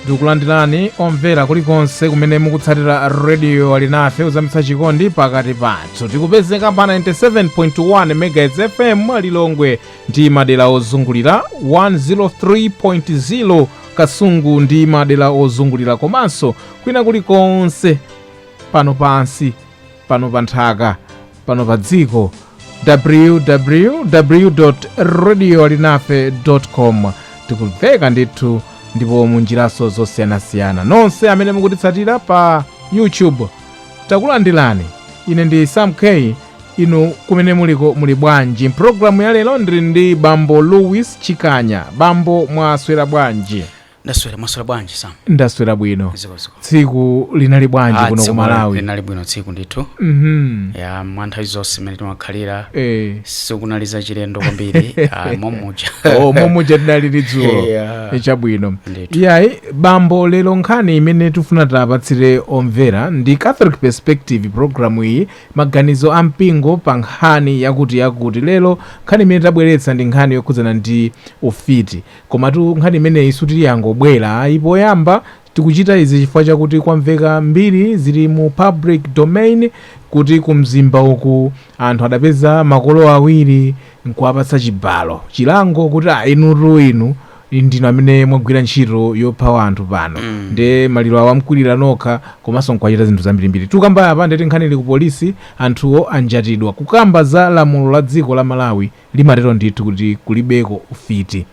tikulandirani omvera kulikonse kumene mukutsatira rediyo alinafe kuzamitsa chikondi pakati pathu tikupezeka pa 97.1 megahertz fm lilongwe ndi madera ozungulira 103.0 kasungu ndi madera ozungulira komanso kwina kulikonse pano pansi pano pa nthaka pano pa dziko www radio alinafe com tikumveka ndithu ndipo munjiranso zosiyanasiyana nonse amene mukutitsatira pa youtube takulandirani ine ndi sam k inu kumene muliko muli bwanji mpulogalamu ya lero ndili ndi bambo louis chikanya bambo mwaswera bwanji ndaswera mwaswera bwanji sam ndaswera bwino zikomo zikomo tsiku linali bwanji Ah, kuno ku malawi linali bwino tsiku ndithu Mhm. ya mwa nthawi zonse imene timakhalira Eh. sikunali za chilendo kwambiri ah, momuja Oh, momuja tinalili dzulo Yeah. chabwino Ndithu. iyayi bambo lero nkhani imene tifuna tipatsire omvera ndi catholic perspective programu iyi maganizo a mpingo pa nkhani yakutiyakuti. Lero nkhani imene tabweretsa ndi nkhani yokhudzana ndi ufiti. Komatu nkhani imeneyi sikuti yangobwera ayi. Poyamba tikuchita izi chifukwa chakuti kwamveka mbiri zili mu public domain kuti ku Mzimba uku anthu adapeza makolo awiri n'kuwapatsa chibalo, chilango kuti ah inutu inu ndinu amene mwagwira ntchito yopha wanthu pano nde maliro awa mukwirira nokha komanso n'kuwachita zinthu zambirimbiri tukamba apa nde kuti nkhani ili ku polisi anthuwo anjatidwa kukamba za lamulo la dziko la malawi limatero ndithu kuti kulibeko ufiti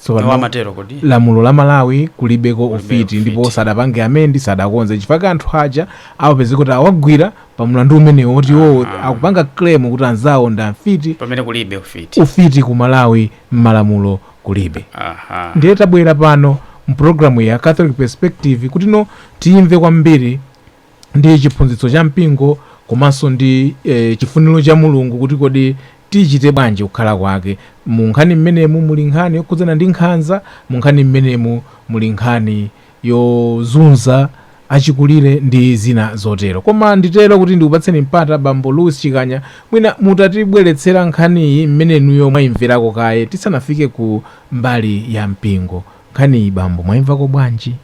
Tsopano, limatero kodi lamulo la malawi kulibeko ufiti ufiti. ndipo sadapange amendi sadakonze chifukwa chake anthu aja awapeza kuti awagwira pa mlandu umenewo woti iwowo akupanga claim kuti anzawo ndi afiti pamene kulibe ufiti ufiti ku malawi m'malamulo kulibe aha ndiye tabwera pano mpulogalamu ya catholic perspective kutino tiyimve kwambiri ndi chiphunzitso cha mpingo komanso ndi eh, chifuniro cha mulungu kuti kodi tichite bwanji kukhala kwake mu nkhani mmenemu muli nkhani yokhudzana ndi nkhanza mu nkhani mmenemu muli nkhani yozunza achikulire ndi zina zotero. Koma nditere kuti ndikupatseni mpata bambo Louis Chikanya mwina mutatibweretsera nkhaniyi mmene inuyo mwaimverako kaye tisanafike ku mbali ya mpingo. Nkhaniyi bambo mwaimvako bwanji?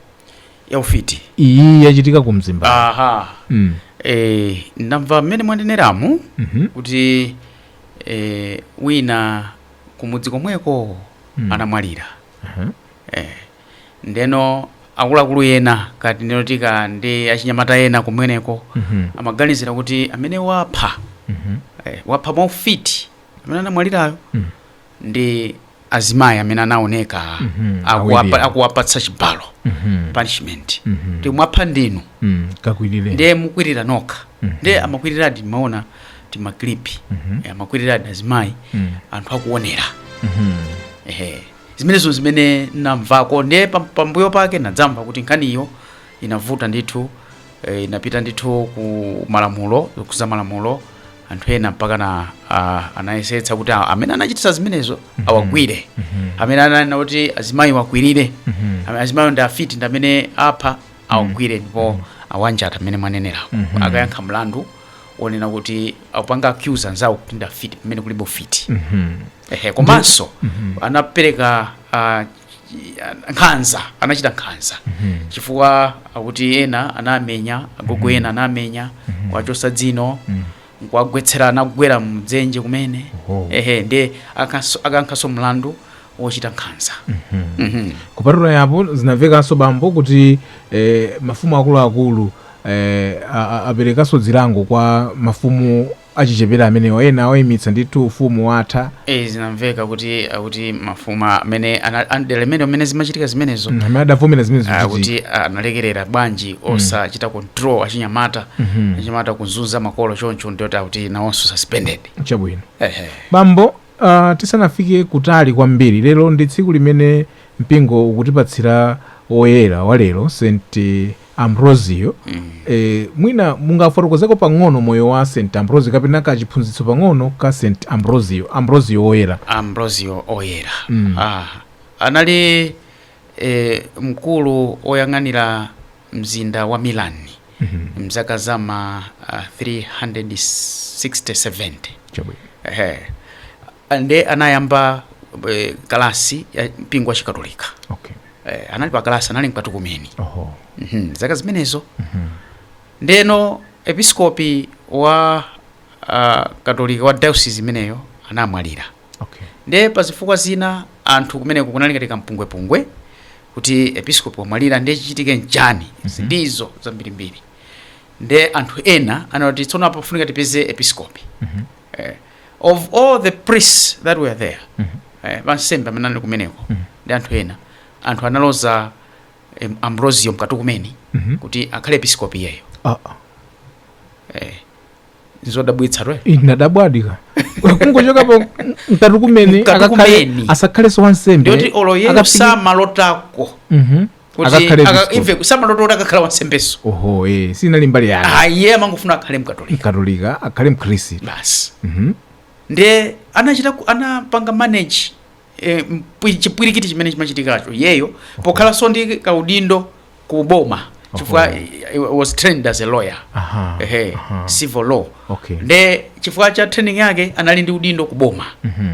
ya ufiti Iyi yachitika ku Mzimba. aha Mm. eh, ndamva mmene mwaneneramu Mhm. kuti eh, wina kumudzi komweko anamwalira Aha. eh, ndeno akuluakulu ena kapena nditi ndi achinyamata ena kumweneko Mhm. amaganizira kuti amene wapha Mhm. eh, wapha mwaufiti amene anamwalirayo Mm. ndi azimayi amene anaoneka Mhm, akuwapa- awiriwo. akuwapatsa chibalo Mhm. punishment Mhm. kuti mwapha ndinu Mm, kakwirire ndiye mukwirira nokha Mhm. ndiye amakwiriradi timaona timaklipi Mhm. eh, amakwiriradi azimayi Mm. anthu akuonera Mhm. ehe Zimenezo n'zimene n'namvako. Ndiye pambuyo pake n'nadzamva kuti nkhaniyo inavuta ndithu, inapita ndithu ku malamulo, zokhudza malamulo. Anthu ena mpakana anayesetsa kuti amene anachititsa zimenezo awagwire, amene ananena kuti azimayi awakwirire, azimayiwo ndi afiti, ndi amene apha awagwire ndipo awanjata mmene mwanenerako, akayankhe mlandu wonena kuti akupanga accuse anzawo kuti ndi afiti pamene kulibe ufiti. ehe komanso anapereka ah, chi- nkhanza anachita nkhanza chifukwa akuti ena anamenya agogo ena anamenya kuwachosa dzino nkuwagwetsera anagwera mdzenje kumene Oho. ehe ndiye akanso- akayankhanso mlandu wochita nkhanza Mhm. kupatula apo zinamvekanso bambo kuti eh, mafumu akuluakulu eh, a- a- aperekanso zilango kwa mafumu achichepere amenewa ena awaimitsa ndithu ufumu watha. Eee zinamveka kuti akuti mafumu amene ana- a mdera limenelo mmene zimachitika zimenezo Mm, amene adavomera zimene zikuchitika akuti analekerera bwanji osachita control achinyamata achinyamata kunzunza makolo choncho ndiyoti akuti nawonso suspended chabwino ehe bambo Tisanafike kutali kwambiri, lero ndi tsiku limene mpingo ukutipatsira woyera wa lero, St. Ambrosio. Mwina mungafotokozeko pang'ono moyo wa St. Ambrosio kapena ka chiphunzitso pang'ono ka St. Ambrosio, Ambrosio Woyera. Ambrosio Oyera anali e, mkulu oyang'anira mzinda wa Milan mzaka za ma ah, 360-70 chabwino Ehe. nde anayamba eh, kalasi ya mpingo wa chikatolika okay Eh, anali pa kalasi anali mkatukumeni oho Mhm, mzaka zimenezo ndeno episkopi wa ah, katolika wa diocese imeneyo anamwalira Okay. nde pa zifukwa zina anthu kumeneko kunali ngati kampungwepungwe kuti episkopi wamwalira nde chichitike nchani ndizo zambirimbiri nde anthu ena anati tsono apa funika tipeze episkopi eh, of all the priests that were there eh, pa ansembe amene anali kumeneko ndi anthu ena anthu analoza em, Ambrosio mkatukumeni kuti akhale episkopi iyeyo Ah, ah. eh, ndizodabwitsatu inadabwadi ka kungochoka pa mkatukumeni Mkatukumeni akakhale asakhalenso wansembe ndiye kuti olo iyeyo Akapiki- samalotako Mhm. kuti Akakhale aka- bishop. iye samalota kuti akakhala wansembeso oho eh, sinali mbali yake ayi iye amangofuna akhale mkatolika mkatolika akhale mkhristu basi Mhm. nde anachita ku- anapanga manage e, mpwi- chipwirikiti chimene chimachitikacho iyeyo pokhalanso ndi kaudindo ku boma chifukwa he was trained as a lawyer Aha, ehe aha. civil law Okay. nde chifukwa cha training yake anali ndi udindo ku boma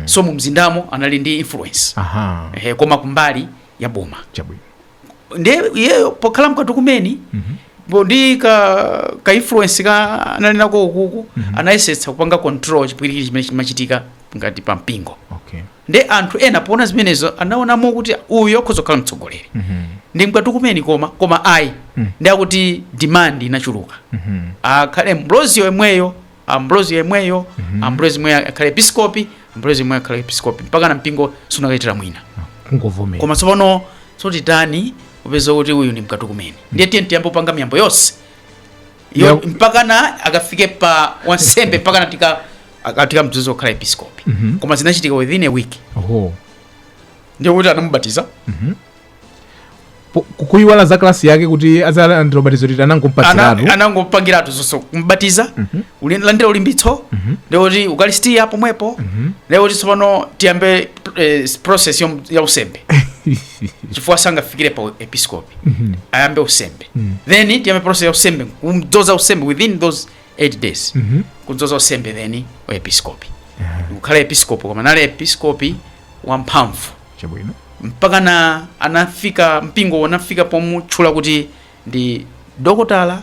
so mu mzindamo anali ndi influence aha ehe koma kumbali ya boma chabwino ndiye iyeyo pokhala mkatukumeni bo ndi ka ka influence ka anali nako ukuku anayesetsa kupanga control chipwirikiti chimene chimachitika ngati pa mpingo okay ndiye anthu ena poona zimenezo anaonamo kuti uyu akhoza kukhala mtsogoleri Mhm. ndi mkatukumeni koma koma ayi Mm. nde akuti demand inachuluka Mhm. akhale Ambrozi yemweyo ambrozi yemweyo ambrozi yemweyo akhale episkopi ambrozi yemweyo akhale episkopi mpakana mpingo sunakachitira mwina kungovomera koma tsopano so titani popeza kuti uyu ndi mkatukumeni ndiye tiye tiyambe kupanga miyambo yonse Yo- Yo- mpakana akafike pa wansembe mpakana tika aka- tikamdzoze kukhala episkopi koma zinachitika within a week oho ndiye kuti anamubatiza Po- kuyiwala za klasi yake kuti adzalandira ubatizo liti anangompatsiratu Ana- anangopangiratu zonse kumbatiza kulandira ulimbitso ndikuti Ukaristiya pomwepo ndikuti tsopano tiyambe eh, process yom- ya unsembe chifukwa sangafikire pa episkopi ayambe unsembe then tiyambe process ya unsembe kumdzoza unsembe within those 8 days kudzoza unsembe then wa episkopi kukhala episkopi koma anali episkopi wamphamvu Chabwino. Mpakana anafika, mpingowo unafika pomutchula kuti ndi dokotala,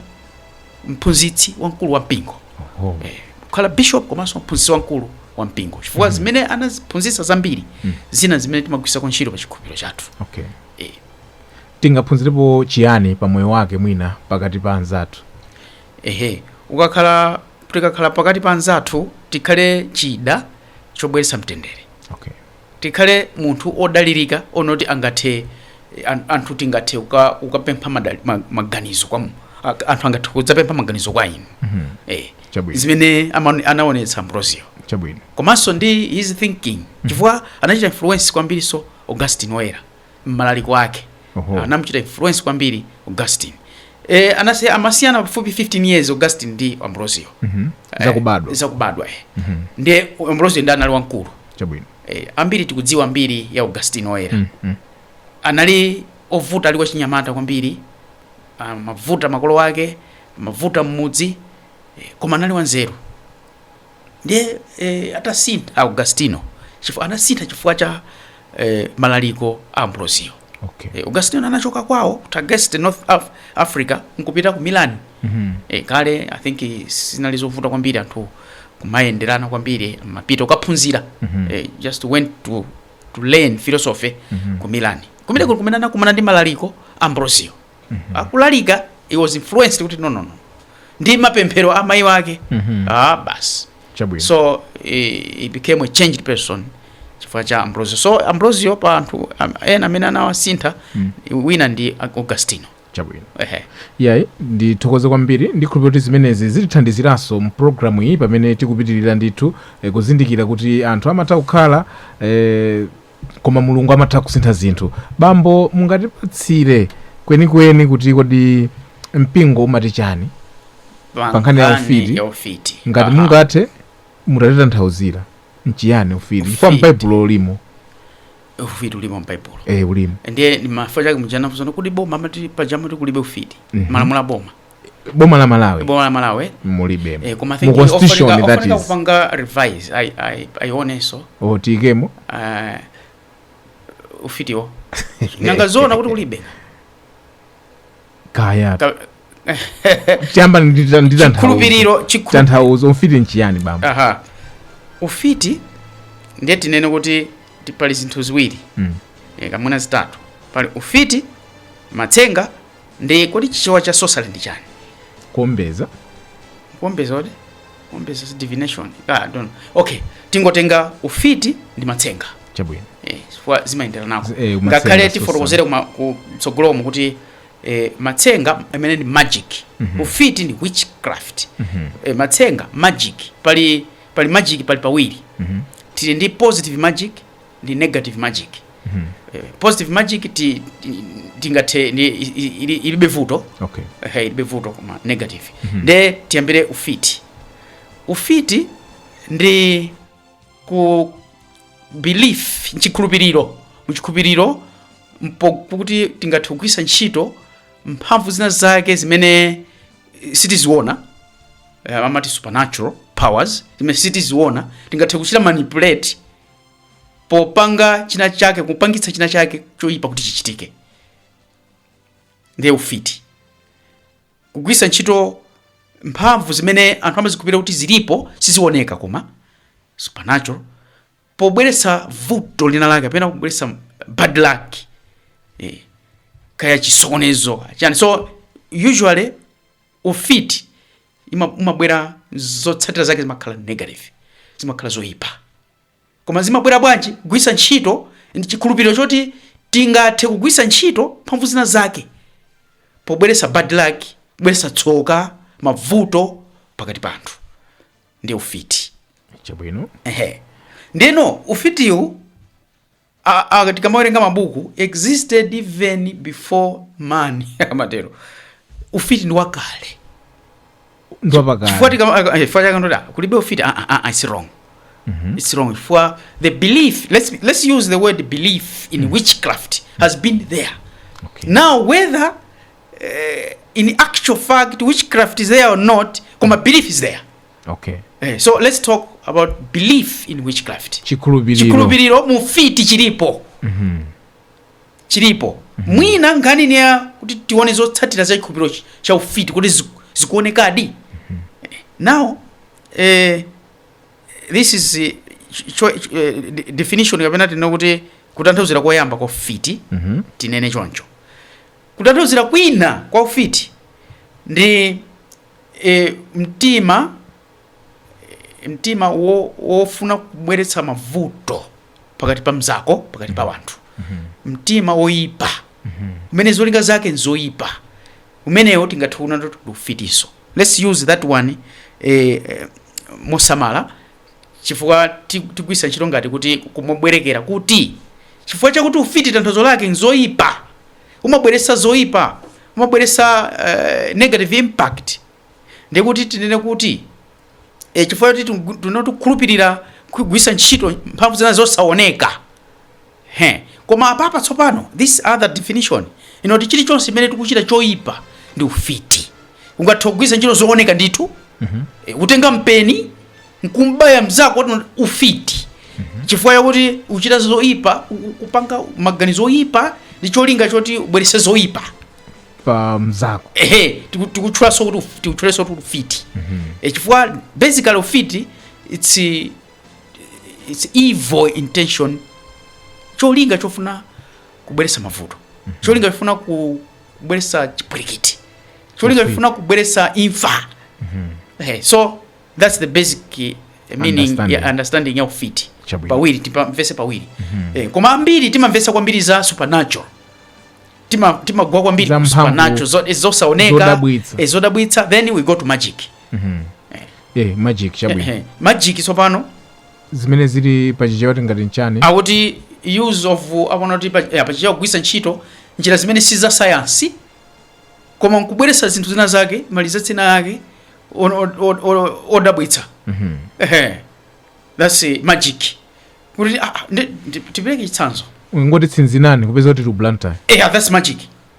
mphunzitsi wamkulu wa mpingo. Oho. Eh, kukhala bishop komanso mphunzitsi wamkulu wa mpingo chifukwa zimene anaziphunzitsa zambiri zina zimene timagwiritsako ntchito pa chikhulupiriro chathu Okay. Eh. Tingaphunzirepo chiyani pa moyo wake mwina pakati pa anzathu? ehe ukakhala tikakhala pakati pa anzathu tikhale chida chobweretsa mtendere Okay. Tikhale munthu odalilika woti angathe anthu tingathe kuka kukapempha madali ma maganizo kwa mu anthu angathe kudzapempha maganizo kwa inu mm -hmm. eh, Chabwino. zimene ama- anaonetsa ambrosio chabwino komanso ndi his thinking chifukwa anachita influence kwambiriso augustine oyera mmalaliko ake Oho. anamchita influence kwambiri augustine e, anali amasiyana pafupi 15 years augustine ndi ambrosio Mhm. Eh, zakubadwa zakubadwa eh. ndiye ambrosio ndi anali wamkulu chabwino eh, ambiri tikudziwa mbiri ya augustine oyera Mm, mm. anali ovuta ali wachinyamata kwambiri ah, amavuta makolo ake amavuta mmudzi eh, koma anali wanzeru ndiye eh, atasintha augustino chifukwa anasintha chifukwa cha eh, malaliko a ambrosio okay. eh, augustino anachoka kwawo ku tagaste north Af africa nkupita ku milan Mhm. eh, kale i think sinali zovuta kwambiri anthu kumayenderana kwambiri amapita kukaphunzira Mhm. eh, just went to, to learn philosophy Mhm. ku milan kumene kuli kumene anakumana ndi malaliko a ambrosio mm -hmm. akulalika he was influenced kuti no no no ndi mapemphero a mayi wake mm -hmm. ah basi Chabwino. so he, he became a changed person chifukwa cha ambrosio so ambrosio pa anthu am- ena amene anawasintha mm. wina ndi augustino chabwino ehe yayi ndithokoze kwambiri ndikhulupirira kuti zimenezi zitithandiziranso mpulogalamu iyi pamene tikupitirira ndithu eh, kuzindikira kuti anthu amatha kukhala eh, Koma Mulungu amatha kusintha zinthu. Bambo, mungatipatsire kwenikweni kuti kodi mpingo umati chani pa nkhani ya ufiti? ya ufiti Ngati Aha. mungathe mutatitanthauzira nchiyani ufiti? Chifukwa Ufiti. m'Baibulo ulimo, ufiti ulimo m'baibulo eh ulimo. ndiye chifukwa chake muja anafunsana kuti boma amati paja amati kulibe ufiti malamulo a boma boma la malawi boma la malawi mulibe eh, koma mu constitution ndiyofunika kupanga revise ai- ai- aioneso oh tiikemo eh, ufitiwu nanga zoona kuti kulibe kaya Ka- chamba ndita ndita khulupiriro chikhulu tanthauzo ufiti nchiyani bambo aha ufiti ndiye tinene kuti ti- pali zinthu ziwiri Mm. eh, kapena zitatu pali ufiti matsenga Ndi kodi chichewa cha sorcery ndi chani? Kuombeza. Kuombeza what? Kuombeza is divination. Ah, I don't know. Okay, tingotenga ufiti ndi matsenga. Chabwino. Eh, chifukwa zimayenderanako. Eh, matsenga Ngakhale sorcery. tifotokozere kuma kutsogoloku kuti eh, matsenga amene ndi magic. Ufiti ndi witchcraft. Eh, matsenga magic pali pali magic pali pawiri. Tili ndi positive magic ndi negative magic mm -hmm. positive magic ilibe vuto okay. hey, ilibe vuto koma negative mm -hmm. nde tiyambire ufiti ufiti ndi belief nchikhulupiriro muchikhulupiriro kuti tingathe kugwiritsa ntchito mphamvu zina zake zimene sitiziona amati supernatural powers zimene sitiziona tingathe kuchita manipulate popanga china chake kupangitsa china chake choyipa kuti chichitike ndiye ufiti kugwiritsa ntchito mphamvu zimene anthu amazikhulupirira kuti zilipo sizioneka koma supernatural pobweretsa vuto lina lake kapena kubweretsa bad luck eh, kaya chisokonezo chani so usually ufiti ima- umabwera zotsatira zake zimakhala negative zimakhala zoyipa koma zimabwera bwanji kugwisa ntchito chikhulupiriro choti tingathe kugwisa ntchito mphamvu zina zake pobweresa bad luck kubweresa tsoka mavuto pakati pa anthu ndiye ufiti chabwino ehe ndeno ufitiwu a, a, tikamawerenga mabuku existed even before man amatero ufiti ndi wakale chifukwa ndi wakale tikama- eh, chifukwa chake ndoti, ah, kulibe ufiti ah, ah, ah, it's wrong it's wrong chifukwa the belief let's use the word belief in witchcraft has been there Okay. now whether eh, in actual fact witchcraft is there or not koma belief is there Okay. Eh, so let's talk about belief in witchcraft. Chikhulupiriro. Chikhulupiriro mu ufiti chilipo. Mhm. Chilipo. Mhm. Mwina nkhani ndi ya kuti tione zotsatira za chikhulupiriro cha ufiti kodi ziku- zikuonekadi. Mhm. Eh, Now eh this is eh, cho, cho, eh, de- definition kapena tinene kuti kutanthauzira koyamba kwa ufiti Mhm. tinene choncho. Kutanthauzira kwina kwa ufiti ndi e, mtima e, mtima wo, wofuna kubweretsa mavuto pakati pa mzako pakati pa wanthu mtima woyipa umene zolinga zake nzoyipa umenewo tingathe kunena kuti ndi ufitiso let's use that one eh, eh, mosamala chifukwa tigwiritsa ntchito ngati kuti kungobwerekera kuti chifukwa chakuti ufiti tanthauzo lake nzoyipa umabweretsa zoyipa umabweretsa uh, negative impact ndiye kuti tinene kuti e, chifukwa choti tinati kukhulupirira kugwiritsa ntchito mphamvu zina zosaoneka He! Koma apapa tsopano this other definition yonena kuti chilichonse chimene tikuchita choipa ndi ufiti. Ungathe kugwiritsa ntchito zooneka ndithu eh, kutenga mpeni nkumbaya mzako ndi ufiti chifukwa chakuti ukuchita zoipa u- u- kupanga maganizo oipa ndi cholinga choti ubweretse zoipa pa mzako ehe tiku- tikutchulanso kuti uf- tikutchulanso kuti ufiti Eh, chifukwa basically ufiti it's eh, it's evil intention cholinga chofuna kubweretsa mavuto cholinga chofuna ku- kubweretsa chipwirikiti cholinga chofuna kubweretsa imfa Eh, so that's the basic eh, meaning Understanding. ya understanding ya ufiti Chabwino. pawiri tipamvese pawiri Eh, koma ambiri timamvesa kwambiri za supernatural Tima- timagwa kwambiri Za ku mphamvu. supernatural zo- eh, zosaoneka Zodabwitsa. eh, zodabwitsa then we go to magic eh magic chabwino Ehe. magic tsopano zimene zili pa chichewa tingati nchani akuti use of apo nakuti pa- eh, pachichewa kugwiritsa ntchito njira zimene si za sayansi koma nkubweretsa zinthu zina zake malizatsi ake on- on- on- on- odabwitsa Ehe. thats eh, magic kuti ah, ah, ndi- ndi- tipereke chitsanzo kungoti tsinzinani kupeza kuti muli ku Blantyre yeah, that's magic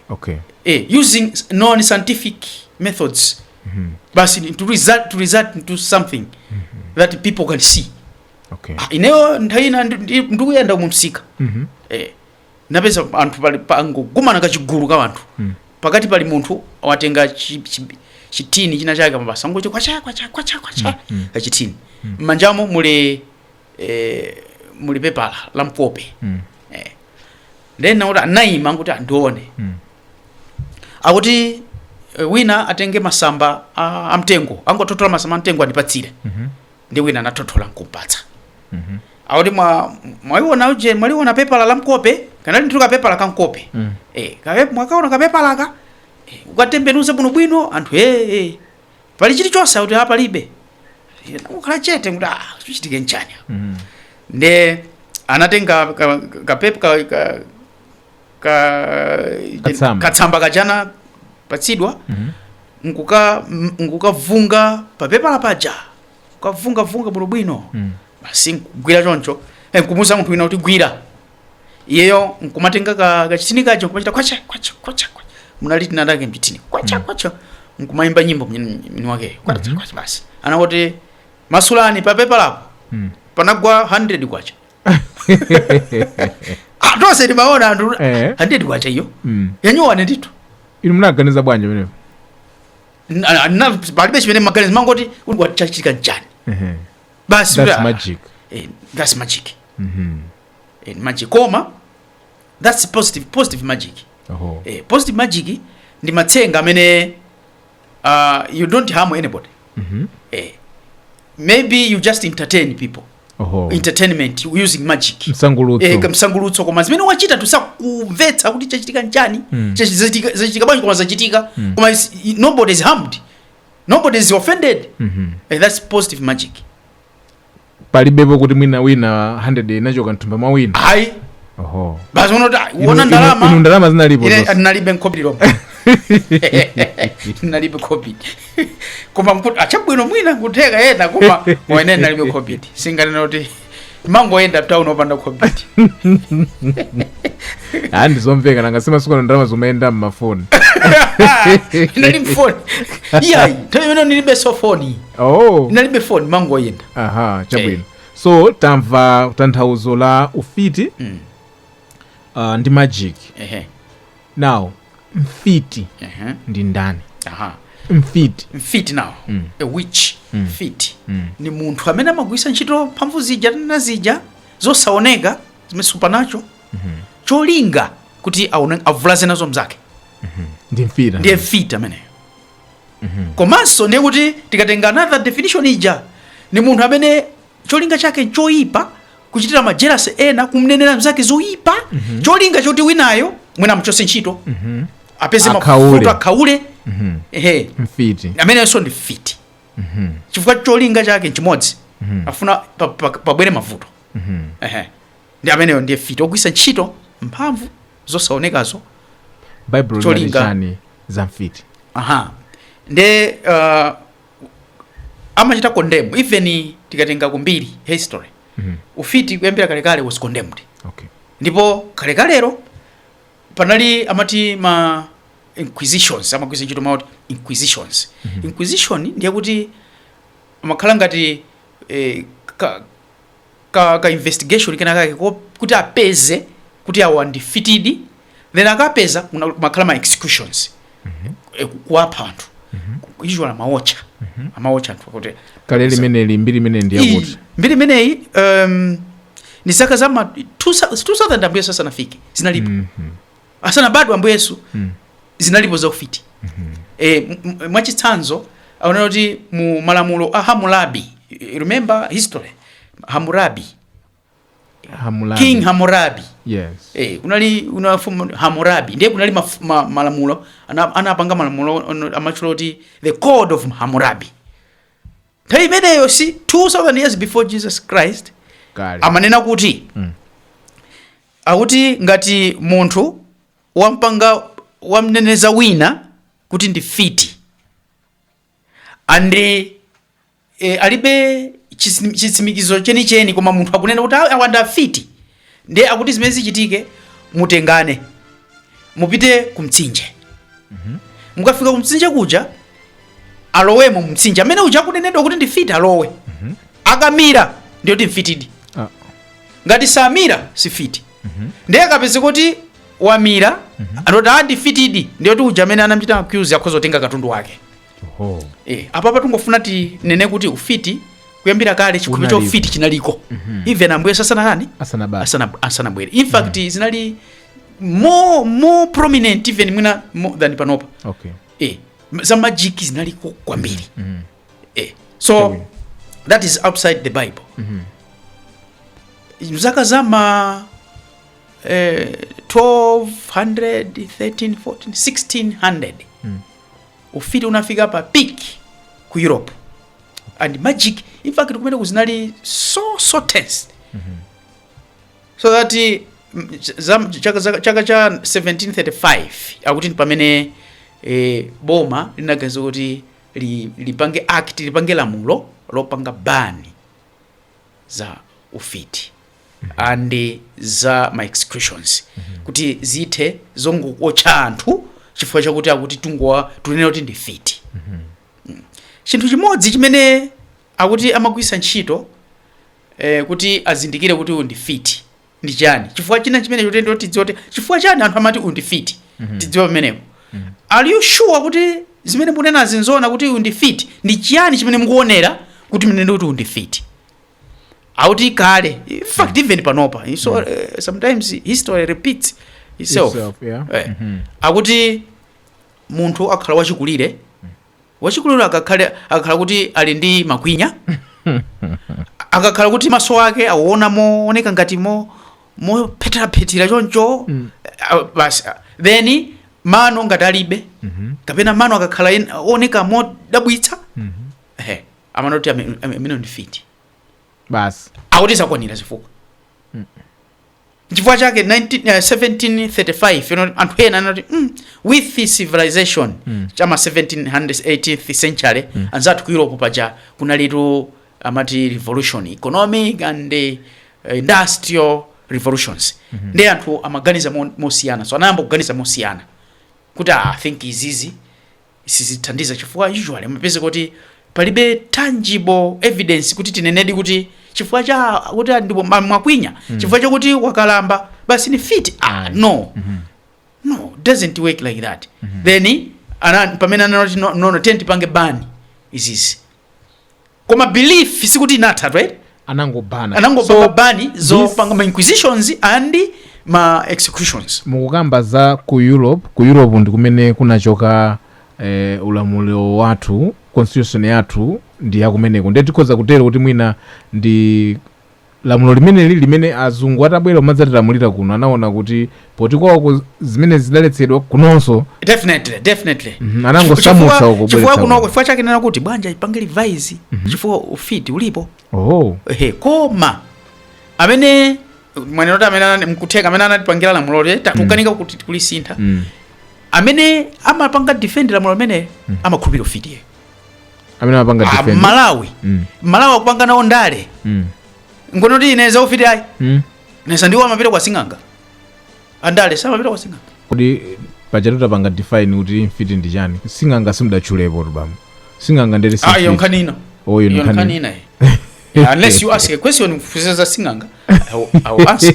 okay eh, using s- non scientific methods basi to result, to result into something that people can see okay Ah, ineyo nthawi ina ndi- ndi- ndikuyenda mumsika Mhm. eh, napeza anthu pali angokumana kachigulu ka anthu Mm. pakati pali munthu watenga chi- chi- chitini china chake amapanga choncho kwacha kwacha kwacha kwacha kachitini mmanjamo muli eh, muli pepala la mkope Mm. eh. then akuti anayima kuti andione Mm. akuti eh, wina atenge masamba a, a mtengo angothothola masamba a mtengo andipatsire Mhm. nde wina anathothola nkumpatsa Mhm. akuti mwa- mwaliona uje mwaliona pepala la mkope kanali ndithu kapepala ka mkope Mm. eh, kape- mwakaona kapepalaka eh, kukatembenuza bwinobwino anthu ee eh, eh. pali chilichonse akuti a palibe Ine ndangokhala chete kuti ah chichitike nchani Mm. nde anatenga ka- kapepa ka, ka, ka, Katsamba. katsamba kaja anapatsidwa Mhm. nkuka m- nkukavunga papepala paja kukavungavunga bwinobwino Mm. basi nkugwira choncho eh, nkumuuza munthu wina kuti gwira iyeyo nkumatenga ka- kachitini kaja nkumachita kwacha kwacha kwacha kwacha. munali tinatake mchitini kwacha kwacha nkumayimba nyimbo mwini mwini wakeyo kwacha kwacha basi anangoti masulani papepalapo Mm. panagwa 100 kwacha Ah, tonse timaona anthu Eh. 100 kwacha iyo Mm. yanyowane ndithu inu munaganiza bwanji pamenepo Na- na- palibe chimene ndimaganiza ndimangoti kodi chachitika nchani Ehe. basi that's kuti, ah, magic eh, that's magic Mhm. eh, magic koma that's positive positive magic Oho. eh, positive magic ndi matsenga amene uh, you don't harm anybody Mhm. eh, maybe you just entertain people Oho. entertainment using magic Msangulutso. eh, kamsangulutso koma zimene wachita tusakumvetsa kuti chachitika nchani Mm. Chachi- zachitika, zachitika bwanji koma zachitika Mm. koma is- i- nobody is harmed nobody is offended Mhm. eh, that's positive magic palibepo kuti mwina wina 100 inachoka mthumba mwa wina ayi oho basi umati "Ah, Inu- uona inu- ndalama inu ndalama zinalipo Ine zonse. ndinalibe khobidi lilomwe ndinalibe khobidi koma nkuti achabwino mwina nkutheka yena koma wene ndinalibe khobidi sindinganene kuti mangoyenda town opanda khobidi Ah, ndizomveka nanga simasunga ndalama zomayenda mmafoni ndinalibe foni iyayi nthawi imene ndilibe foni oh munalibe phone mumangoyenda aha chabwino Eh. so tamva tanthauzo la ufiti Mm. uh, ndi magic ehe now mfiti ehe ndi ndani aha mfiti mfiti now a witch mfiti ni munthu amene amagwiritsa ntchito mphamvu zija na zija zosaoneka zimene supernatural cholinga kuti aone- avulaze nazo mzake ndi mfiti ndiye mfiti ameneyo komanso ndiye kuti tikatenga another definition ija ni munthu amene cholinga chake nchoyipa kuchitira majelasi ena kumnenera mzake zoyipa cholinga choti winayo mwina amchose ntchito apeze Akhaule. mavuto akhaule ehe mfiti ameneyonso ndi mfiti chifukwa cholinga chake nchimodzi afuna pa- pa- pabwere mavuto ehe Ndi ameneyo ndiye mfiti ogwiritsa ntchito mphamvu zosaonekazo. Baibulo linati chani za mfiti? Aha. Nde uh, amachita condemn even tikatenga kumbiri history mm -hmm. ufiti kuyambira kalekale was condemned okay. ndipo kalekalero panali amati ma inquisitions amagwiritsa ntchito mawu oti inquisitions mm -hmm. inquisition ndiye kuti amakhala ngati eh, ka, ka, ka investigation kena kake ko- kuti apeze kuti awa ndi mfitidi then akapeza kuna- kumakhala ma executions Eh, ku- kuwapha anthu usually amawaotcha amawaotcha anthu kuti kale limeneli mbiri imene ndi Iyi, yakuti mbiri imeneyi um, ni zaka za ma 2000 ambuye sasanafike zinalipo asanabadwe ambuye yesu Mm. zinalipo za ufiti e, m- m- mwachitsanzo aonetsa kuti mu malamulo a hamurabi you remember history hamurabi Hamulabi. king hamurabi Yes. Eh, kunali kuna mfumu Hammurabi ndiye kunali maf- ma, malamulo ana- anapanga malamulo ono- amatchula kuti the code of Hammurabi nthawi imeneyo si 2000 years before Jesus Christ Kale. amanena kuti Mm. Akuti ngati munthu wampanga wamneneza wina kuti ndi mfiti and e, alibe chitsim- chitsimikizo chenicheni koma munthu akunena kuti "Ah, awa ndi afiti ndiye akuti zimene zichitike mutengane mupite ku mtsinje mukafika ku mtsinje kuja alowemo mu mtsinje amene uja akunenedwa kuti ndi mfiti alowe akamira ndiyoti mfitidi Ah. ngati samira si mfiti ndiye akapezeka kuti wamira angoti a ndi mfitidi ndiyoti uja amene anamchita accuse akhoza kutenga katundu wake Oho. Eh, apa tungofuna tinene kuti ufiti kuyambira kale chikhumi cha Unalipo. ufiti chinaliko even ambuye asanatani Asanabale. asanabwere in fact zinali more more prominent even mwina more than panopa okay eh za magic zinaliko kwambiri mm. eh so okay. that is outside the bible mm -hmm. mzaka za ma eh, 1200 13 14 1600 mm. ufiti unafika pa peak ku europe and magic in fact kumene kuzinali so so tense mm -hmm. so that mm, ch- za- chaka za- chaka cha 1735 akuti ndi pamene eh, boma linaganiza kuti li- lipange act lipange lamulo lopanga bani za ufiti and za ma executions kuti zithe zongootcha anthu chifukwa chakuti akuti tungowa tunena kuti ndi mfiti Mm. chinthu chimodzi chimene akuti amagwiritsa ntchito eh, kuti azindikire kuti uyu ndi mfiti ndi chiyani chifukwa china chimene chotendo tidziwa kuti chifukwa chani anthu amati uyu ndi mfiti tidziwa pamenepo are you sure kuti zimene mukunenazi nzoona kuti uyu ndi mfiti ndi chiyani chimene mukuonera kuti munene kuti uyu ndi mfiti akuti kale in fact even panopa You see, eh, sometimes history repeats itself Itself, yeah. Eh, akuti munthu akakhala wachikulire Wachikulire akakhale akakhala kuti ali ndi makwinya akakhala kuti maso ake akuona mooneka ngati mo mopheteraphethera choncho ah, basi ah, then mano ngati alibe kapena mano akakhala en- oneka modabwitsa ehe amangoti ameneyo ndi mfiti basi akuti zakwanira zifukwa nchifukwa chake 19, eh, 1735 you know, anthu ena anati mm, with the civilization cha ma 1700s 18th century anzathu ku europe paja kunalitu amati revolution economic and eh, industrial revolutions ndiye anthu amaganiza mo- mosiyana so anayamba kuganiza mosiyana kuti ah, i think izizi Sizithandiza chifukwa usually amapezeka kuti palibe tangible evidence kuti tinenedi kuti chifukwa cha kuti ndipo ma- mwakwinya chifukwa chakuti wakalamba basi ndi mfiti ah, no no doesn't work like that then ndi pamene anati no, no, no tiye tipange ban izizi koma belief sikuti inathatu eti anangopanga anangopanga So, ban this- zopanga ma inquisitions and ma executions mukukamba za ku europe ku europe ndi kumene kunachoka eh, ulamuliro wathu constitution yathu ndi yakumeneko ndiye tikhoza kutero kuti mwina ndi lamulo limeneli limene azungu atabwera n'kumadzatilamulira kuno anaona kuti poti kwawoko zimene zidaletsedwa kunonso definitely definitely Mhm, anangosamutsa Chifukwa- uko chifukwa bwera kuno tawo. chifukwa chake ndikunena kuti bwanji tipange revise chifukwa ufiti ulipo oh ehe koma amene mwanena kuti amene anani- mkutheka amene anatipangira lamuloli tatukanika kuti kulisintha mm. amene amapanga defend lamulo limeneli amakhulupirira ufiti amene amapanga Ah, defend amalawi Mm. amalawi akupanga nawo ndale Mm. ngono kuti ine zaufiti ayi Mm. ndiyesa ndiwo amapita kwa sing'anga andale samapita kwa sing'anga kodi pajatu tapanga define kuti mfiti ndi chani sing'anga sindidatchulepotu bambo sing'anga ndere si ah iyo mfiti. nkhani ino Oh, iyo Iyo nkhani nkhani ino. ina iyi. Yeah, unless you ask a question mufunsa za sing'anga I will- I will answer.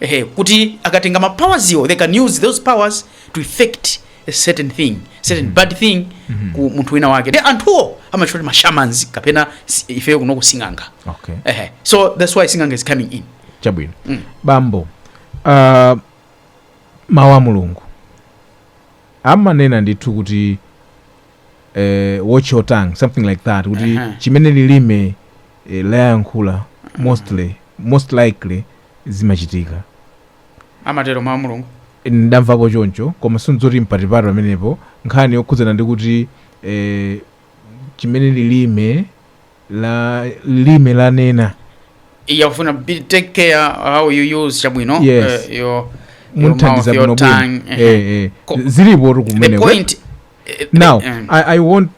ehe kuti akatenga ma powerziwo they can use those powers to effect a certain thing certain mm. bad thing mm -hmm. ku munthu wina wake then anthuwo amawatcha kuti mashamans kapena si- ifeyo kuno kuti sing'anga okay ehe so that's why sing'anga is coming in chabwino Mm. bambo uh, mawu a mulungu amanena ndithu kuti eh, watch your tongue something like that kuti Aha. chimene lilime eh, layankhula mostly most likely zimachitika. Amatero Mau a Mulungu. Ine ndamvako choncho koma si nzoti mphatiphati pamenepo nkhani yokhudzana ndi kuti eh, chimene lilime la lilime lanena Iye akufuna be take care how you use chabwino. Yes. eh, your, your mouth, mundithandize your bwino bwino tongue. eh, eh. eh, eh. Ko- zilipotu The kumeneko point. eh, Now, eh, I, I want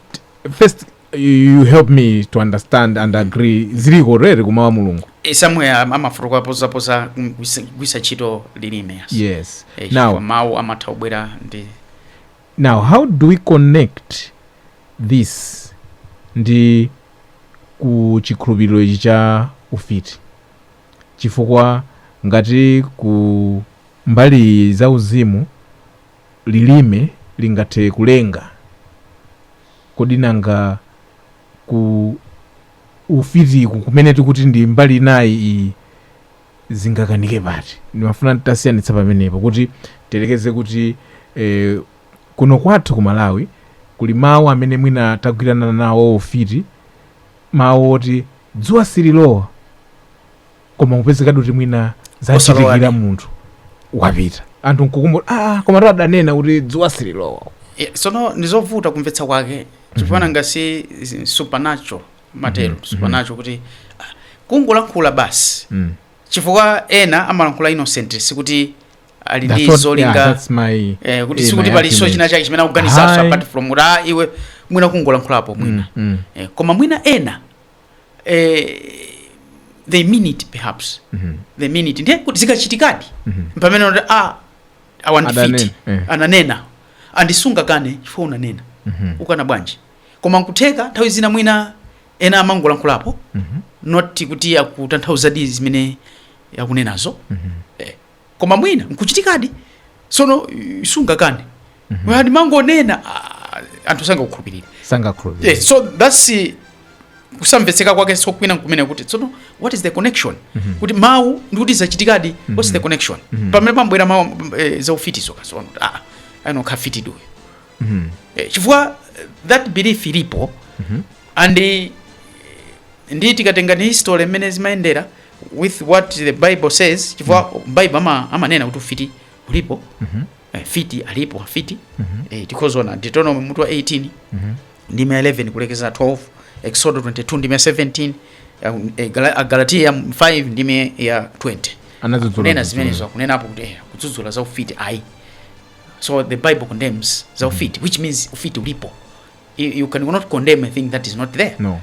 first you help me to understand and agree zili koteroko kumawu a Mulungu Eh, somewhere am- amafotokozapo za kugwiritsa ntchito lilime yes. yes Eh, now chifukwa mawu amatha kubwera ndi now how do we connect this ndi ku chikhulupiriro ichi cha ufiti chifukwa ngati ku mbali za uzimu lilime lingathe kulenga Kodi nanga ku ufitiku kumene tikuti ndi mbali inayi izi zingakanike pati? Ndimafuna titasiyanitsa pamenepo kuti tiyerekeze kuti eh, kuno kwathu ku Malawi kuli mawu amene mwina tagwirana nawo ufiti, mawu oti dzuwa sililowa. koma kupezekadi kuti mwina zachitikira Osalowadi. munthu wapita anthu nkukumbula ah, koma to adanena kuti dzuwa sililowa Eh, sono ndizovuta kumvetsa kwake chifanana ngati zi- supernatural matero supernatural kuti ah, kungolankhula basi Mm. chifukwa ena amalankhula innocent sikuti ali That's ndi what- yeah, zolinga that's my- eh, kuti eh, sikuti my palinso argument. china chake chimene akuganizanso Ayi. apart from kuti ah, iwe mwina kungolankhulapo mwina Mm, mm. eh, koma mwina ena eh, they mean it perhaps Mhm. they mean it ndiye kuti zikachitikadi Mhm. pamenepo kuti a awa ndi mfiti Adanena, eh. ananena ndiye sungakane chifukwa unanena Mhm. ukana bwanji koma nkutheka nthawi zina mwina ena amangolankhulapo Mhm. not kuti akutanthauzadi zimene akunenazo Mhm. koma mwina nkuchitikadi sono eh, sungakane mm-hmm. ndimangonena ah, anthu sangakukhulupirire sangakhulupirire yes, so that's eh, kusamvetseka kwake so kwinaku kumene kuti tsono what is the connection kuti mawu ndikuti zachitikadi what's the connection pamene pabwera mawu eh, zaufiti zoka sono ah, anokha fiti duyo Eh, chifukwa eh, that belief ilipo and eh, ndi tikatenga ni history imene zimayendera with what the bible says chifukwa mm. bible ama, amanena kuti ufiti ulipo mm -hmm. eh, mfiti alipo afiti mm -hmm. eh, tikhoza kuona deuteronomy mutu wa 18 mm -hmm. ndime 11 kulekeza 12 exodo 22 ndime 17 eh, eh, galatia 5 ndime ya 20 anazunena zimenezo akunenapo kuti eh, kudzudzula za ufiti ayi so the bible condemns za mm-hmm. ufiti mm -hmm. which means ufiti ulipo you, you cannot condemn a thing that is not there no.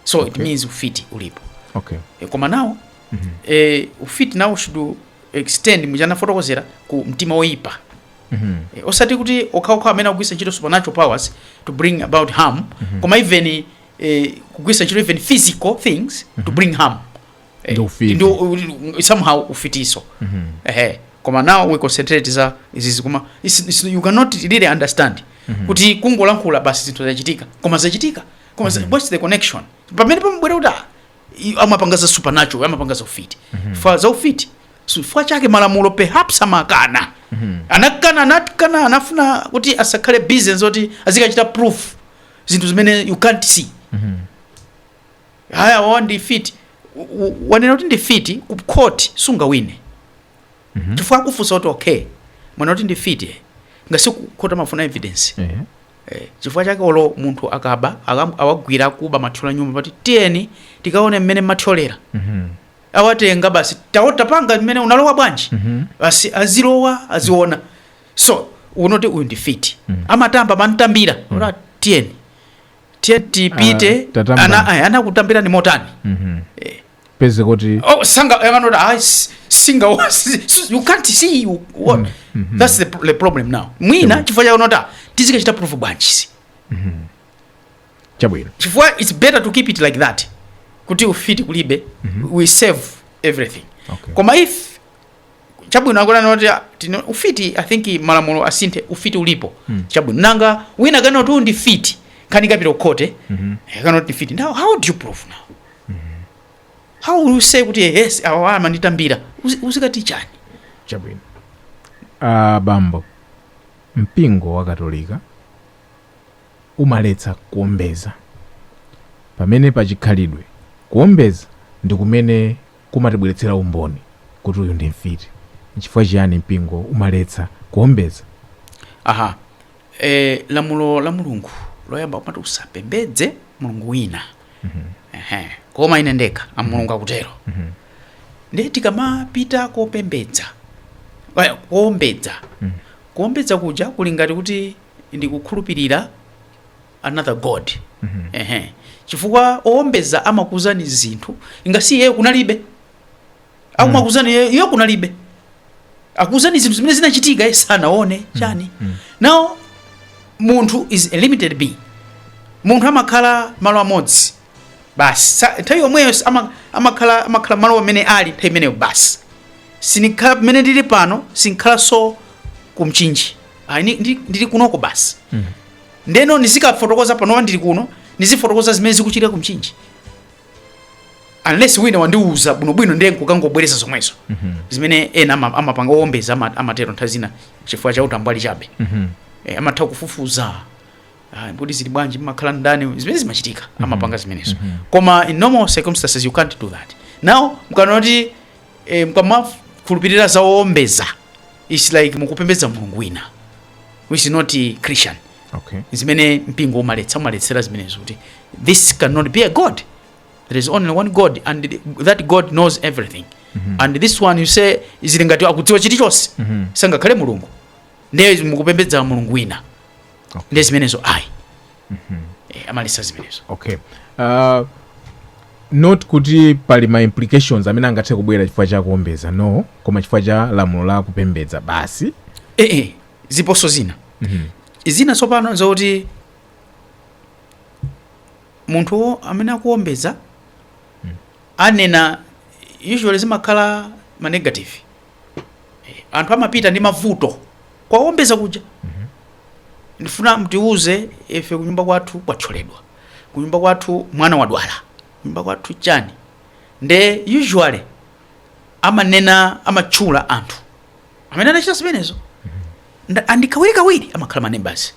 so okay. it means ufiti ulipo okay. e, koma nawo mm -hmm. e, ufiti nawo should extend mmene ndinafotokozera ku mtima woyipa mm -hmm. e, osati kuti okhaokha amene akugwisa ntchito supernatural powers to bring about harm mm -hmm. koma even e, kugwisa ntchito even physical things mm -hmm. to bring harm e, ndi ufiti ndi, u, somehow ufitinso mm -hmm. ehe koma now we concentrate za izizi koma it's, it's, you cannot really understand mm -hmm. kuti kungolankhula basi zinthu zachitika koma zachitika koma mm -hmm. what's the connection pamene pamabwera kuti ah, i- amapanga za supernatural amapanga za ufiti chifukwa za ufiti so chifukwa chake malamulo perhaps amakana anakana anakana anafuna kuti asakhale busy zoti azikachita proof zinthu zimene you can't see haya wawa ndi fiti W- w- wanena kuti ndi fiti ku court sungawine chifukwa akufunsa kuti okay mwana kuti ndi fiti eh. ngati kukhoti amafuna evidence Ehe. Eh, chifukwa chake olo munthu akaba akam- awagwira akuba mathyola nyumba amati tiyeni tikaone mmene mathyolera Mhm. awatenga basi tapanga mmene unalowa bwanji Mhm. basi azilowa aziona so ukanati uyu ndi fiti amatamba amamtambira ora tiyeni tiyeni tipite Ah, tatambani. ana aya, anakutambirani motani Mhm. Eh, upeze kuti oh sanga yang'ana kuti ayi si- singa wa- si- si- you can't see what that's the, pro- the problem now mwina chifukwa chake anati tizikachita proof bwanji so chabwino chifukwa it's better to keep it like that kuti ufiti kulibe we save everything Okay. koma if chabwino akunena kuti ah, tino- ufiti i think malamulo asinthe ufiti ulipo chabwino nanga wina akanena kuti uyu ndi fiti nkhani ikapita kukhoti akanena kuti ndi fiti now how do you prove now how will you say kuti yes awa amanditambira Uzi- uzikati chani chabwino uh, bambo mpingo wa katolika umaletsa kuombeza pamene pachikhalidwe kuombeza ndi kumene kumatibweretsera umboni kuti uyu ndi mfiti nchifukwa chiyani mpingo umaletsa kuombeza aha e, lamulo la mulungu loyamba limati usapembedze mulungu wina Ehe. koma ine ndekha a mulungu akutero ndiye tikamapita kopembedza eh, kuombedza kuombedza kuja kuli ngati kuti ndikukhulupirira another god Ehe. chifukwa oombeza amakuuzani zinthu ingasiye kunalibe akumakuzani mm. iyo kunalibe akuzani zinthu zimene zinachitika iye sanaone chani mm. now munthu is a limited being munthu amakhala malo amodzi basi Sa- nthawi yomweyo s- ama- amakhala amakhala malo amene ali nthawi imeneyo basi sinikhala pamene ndili pano sinkhalanso kumchinji Ayi, ni- ndi- ndili kunoko basi ndeno ndizikafotokoza panowa ndili kuno ndizifotokoza zimene zikuchitika kumchinji unless wina wandiuza bwinobwino ndiye nkukangobwereza zomwezo mhm. zimene ena amapanga owombeza amatero nthawi zina chifukwa cha utambwali chabe mhm. eh, amatha kufufuza ah, m'mudzi zili bwanji mmakhala ndani zimene zimachitika mhm. amapanga zimenezo koma in normal circumstances you can't do that now n'kona kuti eh, mkamakhulupirira za owombeza its like mukupembedza mulungu wina which is not christian okay. zimene mpingo umaletsa umaletsera zimenezo kuti this cannot be a god there is only one god and the- that god knows everything and this one you say zili ngati akudziwa chilichonse sangakhale mulungu ndiye mukupembedza mulungu wina Okay. ndiye zimenezo ayi Eh, amaletsa zimenezo okay uh, not kuti pali ma implications amene angathe kubwera chifukwa cha kuombeza no koma chifukwa cha lamulo la kupembedza basi ee ndiponso zina zina tsopano nzakuti munthu wo amene akuombeza anena usually zimakhala ma negative Eh, anthu amapita ndi mavuto kwa owombeza kuja ndifuna mutiuze ife kunyumba kwathu kwathyoledwa kunyumba kwathu mwana wadwala kunyumba kwathu chani nde usually amanena amatchula anthu amene anachita zimenezo Nda- andi kawirikawiri amakhala ma neighbours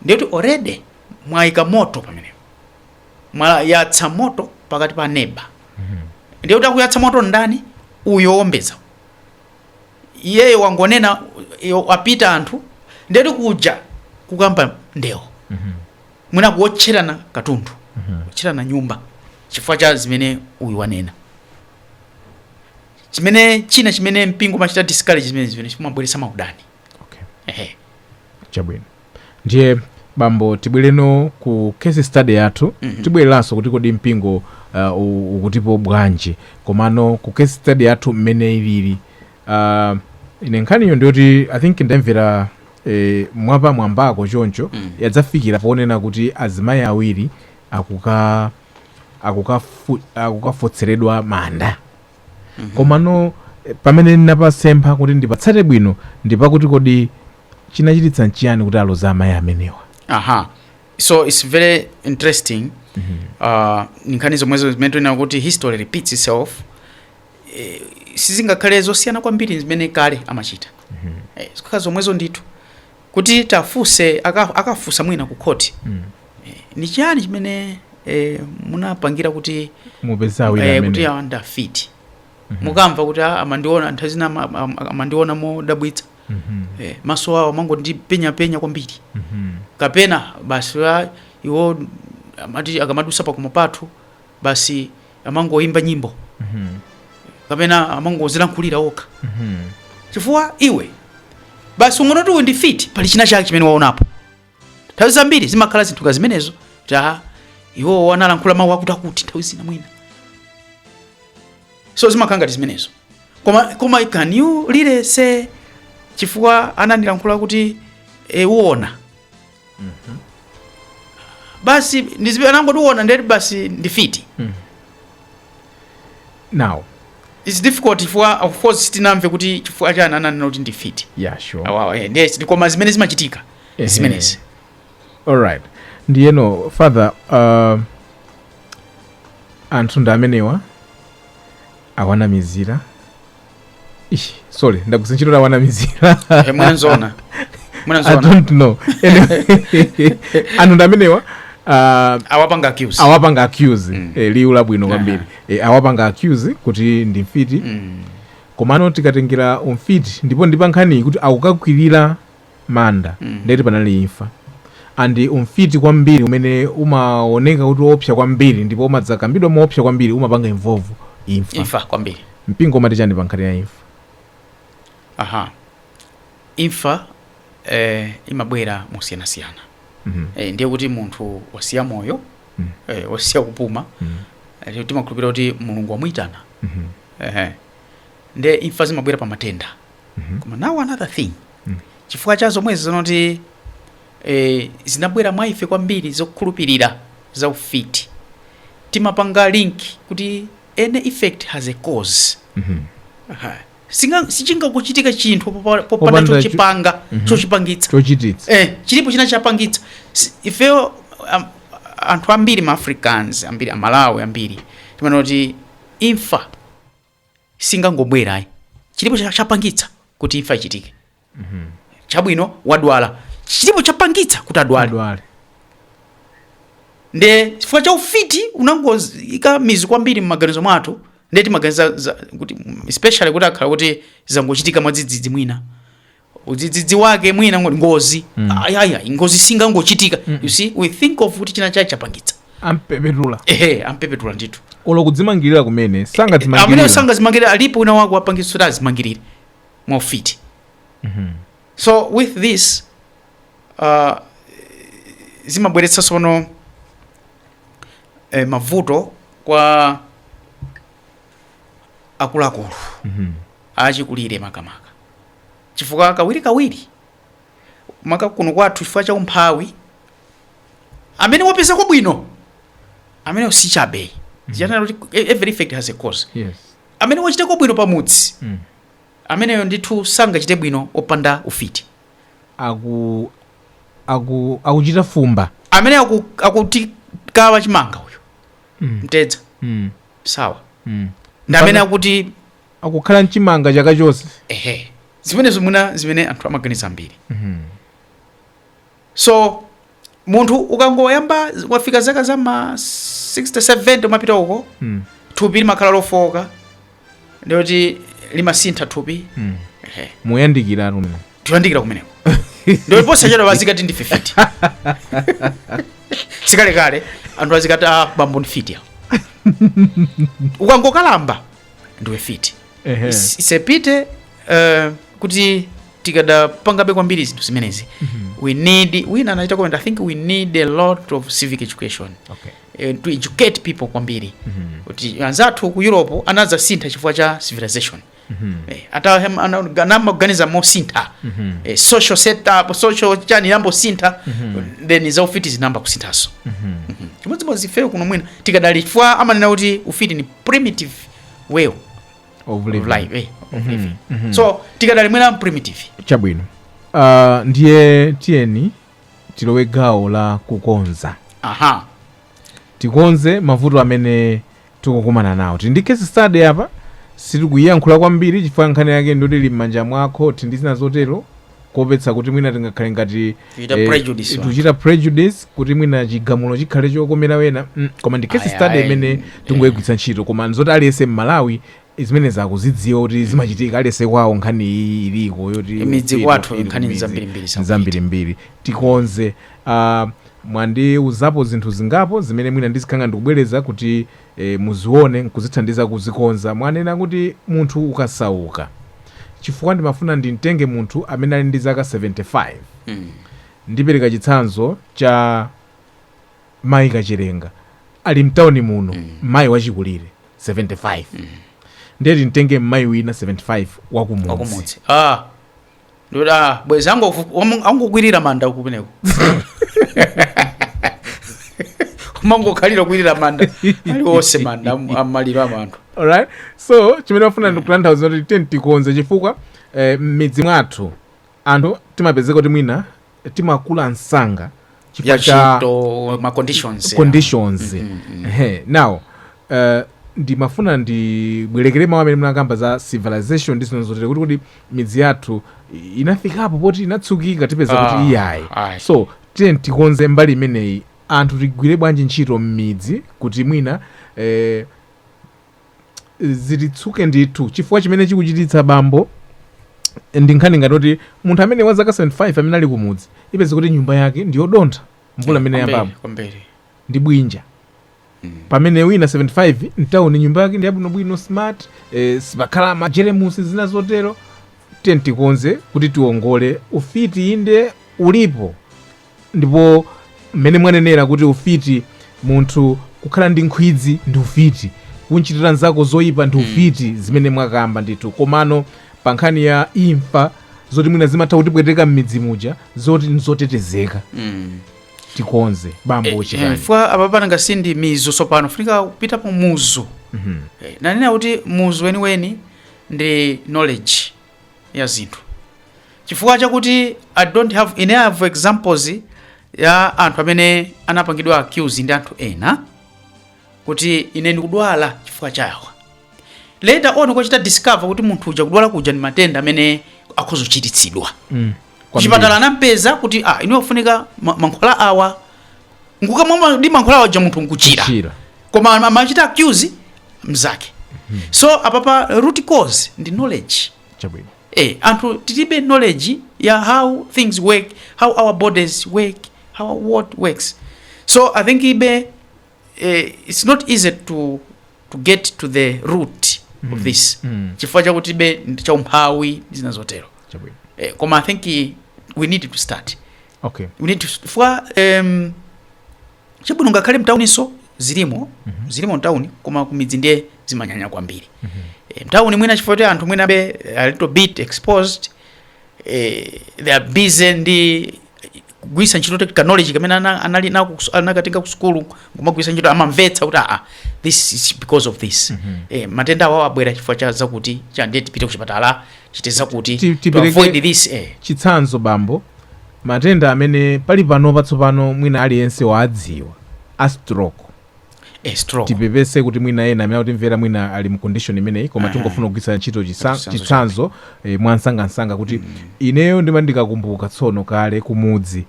ndiye kuti already mwaika moto pamenepo mwayatsa moto pakati pa neba ndiye kuti akuyatsa moto ndani uyu owombeza iyeyo wangonena iye wapita anthu ndiye kuti kuja kukamba ndewo mwina kuwotcherana katundu kuwotcherana nyumba chifukwa cha zimene uyu wanena chimene china chimene mpingo umachita discourage zimenezi zimabweretsa maudani okay. ehe chabwino ndiye bambo tibwere no ku case study yathu mm -hmm. tibwereranso kuti kodi mpingo uh, ukutipo bwanji komano ku case study yathu mmene ilili uh, ine nkhaniyo nditi i think ndayimvera eh, mwapa mwambako choncho mm. yadzafikira ponena kuti azimayi awiri akuka akukafo, akukafotseredwa manda komano eh, pamene ndinapasepha kuti ndipatsate bwino ndi pakuti kodi chinachititsa nchiyani kuti aloze amayi amenewa aha so its very interesting uh, nkhani zomwezo zimene tinena kuti history repeats itself eh, sizingakhale zosiyana kwambiri zimene kale amachita eh, zimakhala zomwezo ndithu kuti atafunsa aka, akafunsa mwina ku khoti mm. e, ni chani chimene e, munapangira kuti mupeze awiri e, kuti awa ndi afiti mm -hmm. mukamva kuti ah, amandiona nthawi zina amandiona modabwitsa mm -hmm. e, maso awo amangondipenyapenya kwambiri mm -hmm. kapena basi iwo amati akamadusa pakhomo pathu basi amangoyimba nyimbo kapena amangodzilankhulira okha chifukwa iwe basi ungoti uyu ndi mfiti pali china chake chimene waonapo nthawi zambiri zimakhala zinthu ngati zimenezo kuti iwo analankhula mawu akutiakuti nthawi zina mwina so zimakhala ngati zimenezo koma koma can you lilese chifukwa anandilankhula kuti e, uona basi ndizibe anangondiona ndiye basi ndi mfiti now its difficult chifukwa of course sitinamve kuti chifukwa chani ananena kuti ndi mfiti yeah sure awawa eh, ndiye koma zimene zimachitika Ehe. zimenezi alright ndiyeno father uh, anthu ndi amenewa awanamizira Ish, sorry ndagwiritsa ntchito awanamizira Eh, mwanzona I mwanzona don't know Anyway, anthu ndi amenewa ah, awapanga accuse awapanga accuse eh, liwu labwino kwambiri eh, awapanga accuse kuti ndi mfiti komano tikatengera umfiti ndipo ndi pankhaniyi kuti akukakwirira manda ndiye kuti panali imfa and umfiti kwambiri umene umaoneka kuti oopsa kwambiri ndipo umadzakambidwa moopsa kwambiri umapanga involve imfa imfa kwambiri mpingo umati chani pa nkhani ya imfa aha imfa eh, imabwera mosiyanasiyana Mhm. eh, ndiye kuti munthu wasiya moyo Mm. eh, wasiya kupuma Mhm. eh, timakhulupirira kuti mulungu wamuyitana Mhm. eh, ndiye imfa zimabwera pa matenda koma now another thing chifukwa cha zomwezi zonoti eh, zinabwera mwa ife kwambiri zokhulupirira za ufiti timapanga link kuti any effect has a cause Aha. Singa- sichingachitike chinthu popa- popanda Popanda cho- chochipanga chochipangitsa chochititsa eh, chilipo china chapangitsa Si- ifeyo um, anthu ambiri ma africans ambiri amalawi ambiri timanena kuti imfa singangobwera ayi chilipo cha- chapangitsa kuti imfa ichitike chabwino wadwala chilipo chapangitsa kuti adwale adwale nde chifukwa cha ufiti unangoika mizu kwambiri mmaganizo mwathu nde timaganiza za- kuti especially zikakhala kuti zangochitika mwadzidzidzi mwina udzidzidzi wake mwina ngo- ngozi Mm. Ai, ai, ai, ngozi singangochitika Mm. you see we think of kuti china chake chapangitsa ampepetula ehe ampepetula ndithu olo kudzimangirira kumene amene sangadzimangirire sangazimangirire alipo wina wake wapangitsa kuti azimangirire mwaufiti Mhm. so with this uh, zimabweretsa sono eh, mavuto kwa akuluakulu Mhm. achikulire makamaka chifukwa kawirikawiri maka kuno kwathu chifukwa cha umphawi amene wapeza kwabwino amene si chabe zija amati e- every effect has a cause yes amene wachita kwabwino pamudzi mm. ameneyo ndithu sangachite bwino wopanda ufiti aku aku akuchita fumba amene aku- akutikawa chimanga uyu mm. mtedza mm. sawa mm. ndi amene Pana- akuti akukhala mchimanga chaka chonse ehe zimenezo mwina zimene anthu amaganiza ambiri so munthu ukangoyamba wafika zaka za ma 60 70 umapita uko Mm. thupi limakhala lofowoka ndiyoti limasintha thupi Mm. ehe mukuyandikira inu mmene tikuyandikira kumeneko ndio posachedwa azikati ndi 50 sikalekale anthu azikati ah, bambo ndi mfiti awo ukangokalamba ndiwe mfiti Ehe. Is- isepite eh, kuti tikadapangabe kwambiri zinthu zimenezi we need wina anachita comment i think we need a lot of civic education Okay. eh, to educate people kwambiri kuti anzathu ku europe anadzasintha chifukwa cha civilization Eh, ata hem- ana- ana- amaganiza mosintha Eh, social setup social chani inayamba kusintha then zaufiti zinayamba kusinthaso chimodzimodzi ifeyo kuno mwina tikadali chifukwa amanena kuti ufiti ndi primitive way of of living. life eh, of living. so tikadali mwina primitive chabwino uh, ndiye tiyeni tilowe gawo la kukonza aha tikonze mavuto amene tikukumana nawo tili ndi case study apa sitikuyiyankhula kwambiri chifukwa nkhani yake ndiyoti ili m'manja mwa khoti ndi zina zotero kuopetsa kuti mwina tingakhale ngati Tikuchita eh, prejudice anthu. tichita prejudice kuti mwina chigamulo chikhale chokomera ena mm, koma ndi case Ayi, study ayi. imene tingoyigwiritsa ntchito koma nzoti aliyense mmalawi zimene akuzidziwa kuti zimachitika aliyense kwawo nkhani iyi iliko yoti Midzi ufiti, kwathu ufiti, nkhani midzi. nzambirimbiri zakuchita. nzambirimbiri tikonze uh, mwandiuzapo zinthu zingapo zimene mwina ndizikhala ngati ndikubwereza kuti e muzione nkuzithandiza kuzikonza. Mwanena kuti munthu ukasauka chifukwa ndimafuna ndimtenge munthu amene ali ndi zaka 75. Ndipereka chitsanzo cha Mayi Kacherenga ali mtauni muno mmayi wachikulire 75. Ndiye timtenge mmayi wina 75 wakumudzi. Wakumudzi. Ah! Ndikuti, "Ah, bwezi angovu- omu- angokwirira manda kumeneko kumangokhalira kwirira manda alionse manda am- amaliro a anthu alright so chimene ndimafuna ndikutanthauza kuti tiyeni tikonze chifukwa eh, m'midzi mwathu anthu timapezeka kuti mwina timakula msanga ya chifukwa cha ntchito ma conditions ya. conditions Ehe, now uh, ndimafuna ndibwerekere mawu amene munakamba za civilization ndi zinthu zotere kuti kodi midzi yathu i- inafikapo poti inatsukika tipeza Ah, kuti iyayi ayi. so tiyeni tikonze mbali imeneyi anthu tigwire bwanji ntchito m'midzi kuti mwina eh, zitsuke ndithu chifukwa chimene chikuchititsa bambo ndi nkhani yakuti munthu amene wa zaka 75 amene ali kumudzi upeze kuti nyumba yake ndi yodontha mvula mmene Kwambiri, yayambapo kwambiri ndi bwinja Mm. pamene wina 75 mtawuni nyumba yake ndi yabwinobwino smart eh, sipakhala majeremusi zina zotero tiyeni tikonze kuti tiongole ufiti inde ulipo ndipo mmene mwanenera kuti ufiti munthu kukhala ndi nkhwidzi ndi ufiti kunchitira mnzako zoyipa ndi ufiti zimene mwakamba ndithu komano pa nkhani ya imfa zoti mwina zimatha kutipweteka m'midzi muja zoti nzotetezeka Mm. tikonze bambo Eh, chifukwa apa pananga si ndi mizu sopano funika kupita pa muzu Eh, nanena kuti muzu weniweni ndi knowledge ya zinthu chifukwa chakuti i don't have ine i have examples ya anthu amene anapangidwa accuse ndi anthu ena kuti ine ndikudwala chifukwa chawa later on kuchita discover kuti munthu uja kudwala kuja ndi matenda amene akhoza kuchiritsidwa Mm. kuchipatala anampeza kuti ah, inu mufunika ma- mankhwala awa nkukamwa ma- ndi mankhwala waja munthu nkuchira Kuchira. koma am- amachita accuse mnzake so apapa root cause ndi knowledge chabwino eh, anthu tilibe knowledge ya how things work how our bodies work how our world works so i think iwe eh, it's not easy to, to get to the root of this Mm. chifukwa chakuti iwe ndi chaumphawi ndi zina zotero chabwino eh, koma i think eh, we need to start okay. chifukwa um, chabwino ngakhale mtawuninso zilimo mm -hmm. zilimo mtawuni koma kumidzi ndiye zimanyanya kwambiri mm -hmm. e, mtawuni mwina chifukwa kuti anthu mwina been a little bit exposed e, they are busy ndi kugwiritsa ntchito kaka knowledge kamene anali nako anakatenga ku sukulu kumagwiritsa ntchito amamvetsa kuti aa this is because of this mm -hmm. e, matenda awa abwera chifukwa cha zakuti cha ndiye tipite kuchipatala tichite zakuti to avoid this eh. chitsanzo bambo Matenda amene pali panopa tsopano mwina aliyense wawadziwa, a stroke. Eh, stroke. Tipepese kuti mwina ena amene akutimvera mwina ali mu condition imeneyi koma Aha. tingofuna kugwiritsa ntchito chisa- Chitsanzo chitsanzo eh, mwansangansanga kuti ineyo ndima ndikakumbuka tsono kale kumudzi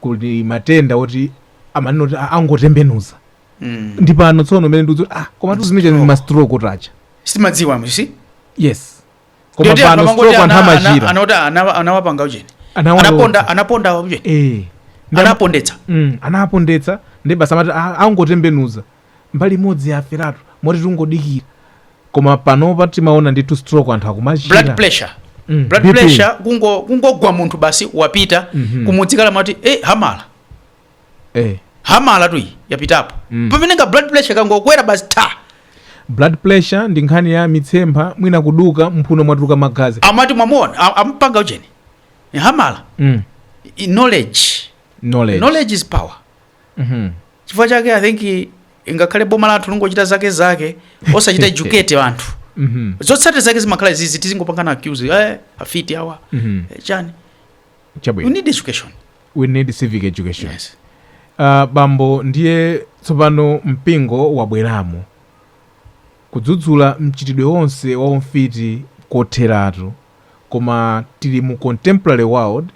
kudali matenda oti amanena kuti "Ah, angotembenuza Mm. ndi pano tsono umene ndikuti ah koma tu zimene zija ndi mastroke aja Sitimadziwa msi. yes koma Ndiye pano anthu amangoti stroke anthu ana- ana- amachira ana kuti ana- anawapanga ujeni Anawa- anaponda anaponda ujeni Eh. Ndi am- anapondetsa Mm, anapondetsa ndi basi amati "Ah, angotembenuza mbali imodzi yaferatu moti tingodikira koma panopa timaona ndithu stroke anthu blood akumachira pressure Mm, blood BP. pressure kungo- kungogwa munthu basi wapita Mhm. kumudzi kale amati e hamala eh. hamala tu iyi yapitapo mm. pamene ka blood pressure kangokwera basi ta blood pressure ndi nkhani ya mitsempha mwina kuduka mphuno mwatuluka magazi amati mwamuona a- amupanga ujeni Ndi hamala mm. I- knowledge knowledge, knowledge is power Mhm. chifukwa chake i think i- ingakhale boma lathu lingochita zake zake osachita educate anthu Mhm. zotsatira zake zimakhala zizi tizingopangana accuse eh, afiti awa Mhm. eh, chani Chabwino. You need education. We need civic education. Yes. Uh, bambo ndiye tsopano mpingo wabweramo kudzudzula mchitidwe wonse wa umfiti kotheratu koma tili mu contemporary world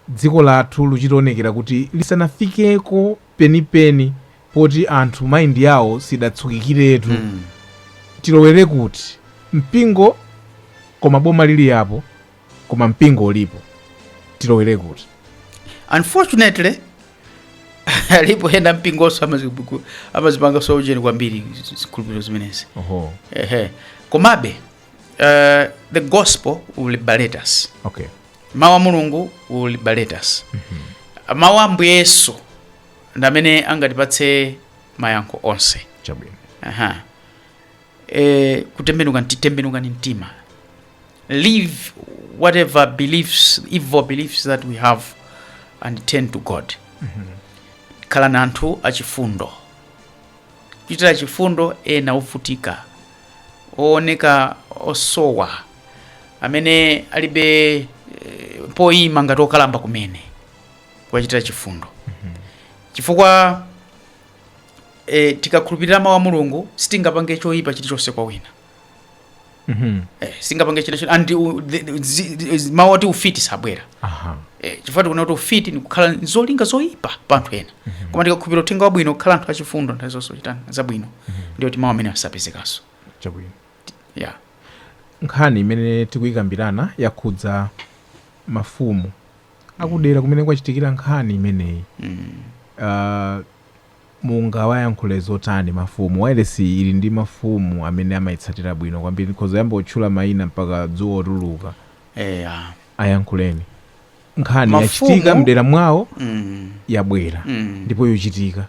dziko lathu likuchita kuonekera kuti lisanafikeko penipeni poti anthu maindi yawo sidatsukikiretu mm. tilowere kuti mpingo koma boma lilipo koma mpingo ulipo tilowere kuti unfortunately alipo ena mumpingonso amazibuku- amazipanga zaujeni kwambiri zi- zikhulupiriro zimenezi oho ehe komabe uh, the gospel will liberate us okay mawu a mulungu will liberate us mawu a ambuye yesu ndi amene angatipatse mayankho onse chabwino Aha. eh, kutembenuka nti- tembenukani mtima live whatever beliefs evil beliefs that we have and turn to god khalani anthu achifundo kuchitira chifundo ena ovutika ooneka osowa amene alibe eh, poyima ngati okalamba kumene kuwachitira chifundo chifukwa e, tikakhulupirira mawu a mulungu sitingapange choyipa chilichonse kwa wina Mhm. e, sitingapange chilichonse and u- the- the- zi- zi- mawu oti ufiti sabwera Aha. Eh, chifukwa tikuona kuti ufiti ndikukhala ndi zolinga zoyipa pa anthu ena koma tikakhulupirira uthenga wabwino kukhala anthu achifundo nthawi zonse kuchita zabwino ndiye kuti mawu amene asapezekanso Chabwino. yeah. nkhani imene tikuyikambirana yakhudza mafumu akudera kumene kwachitikira nkhani imeneyi uh, mungawayankhule zotani mafumu wailesi ili ndi mafumu amene amayitsatira bwino kwambiri ndikhoza kuyamba kutchula mayina mpaka dzuwa kutuluka eya ayankhuleni nkhani Mafumu- yachitika mdera mwawo mm. yabwera Mm. ndipo yochitika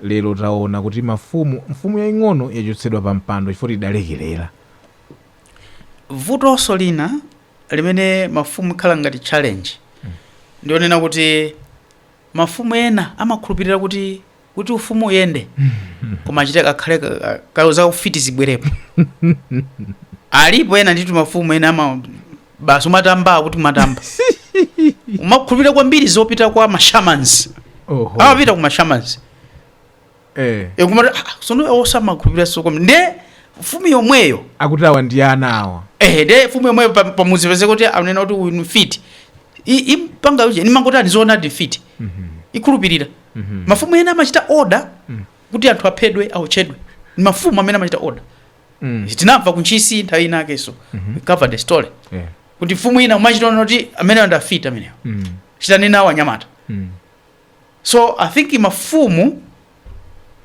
lero taona kuti mafumu mfumu yaying'ono yachotsedwa pa mpando chifukwa idalekerera vutonso lina limene mafumu likhala ngati challenge ndi lonena kuti mafumu ena amakhulupirira kuti kuti ufumu uyende koma achite kakhale ka- ka- kayo za ufiti zibwerepo alipo ena nditu mafumu ena ama basi umatamba kuti umatamba umakhulupirira kwambiri zopita kwa mashamans oho amapita ku mashamans Eh. e kumati "Ah, sono iwo samakhulupirira so kwambiri nde mfumu yomweyo akuti awa ndi ana awa ehe nde mfumu yomweyo pa- pamuzi pezeka kuti anena kuti uyu ni mfiti I- impanga yuje nimangoti andizoonadi mfiti ikhulupirira mafumu ena amachita oda kuti anthu aphedwe aotchedwe ni mafumu amene amachita oda Mm. tinamva kuntchisi nthawi inakenso cover the story Eh. kuti mfumu ina imachita oda kuti ameneyo ndi mfiti ameneyo Mm. chitanena awo anyamata Mm. so i think mafumu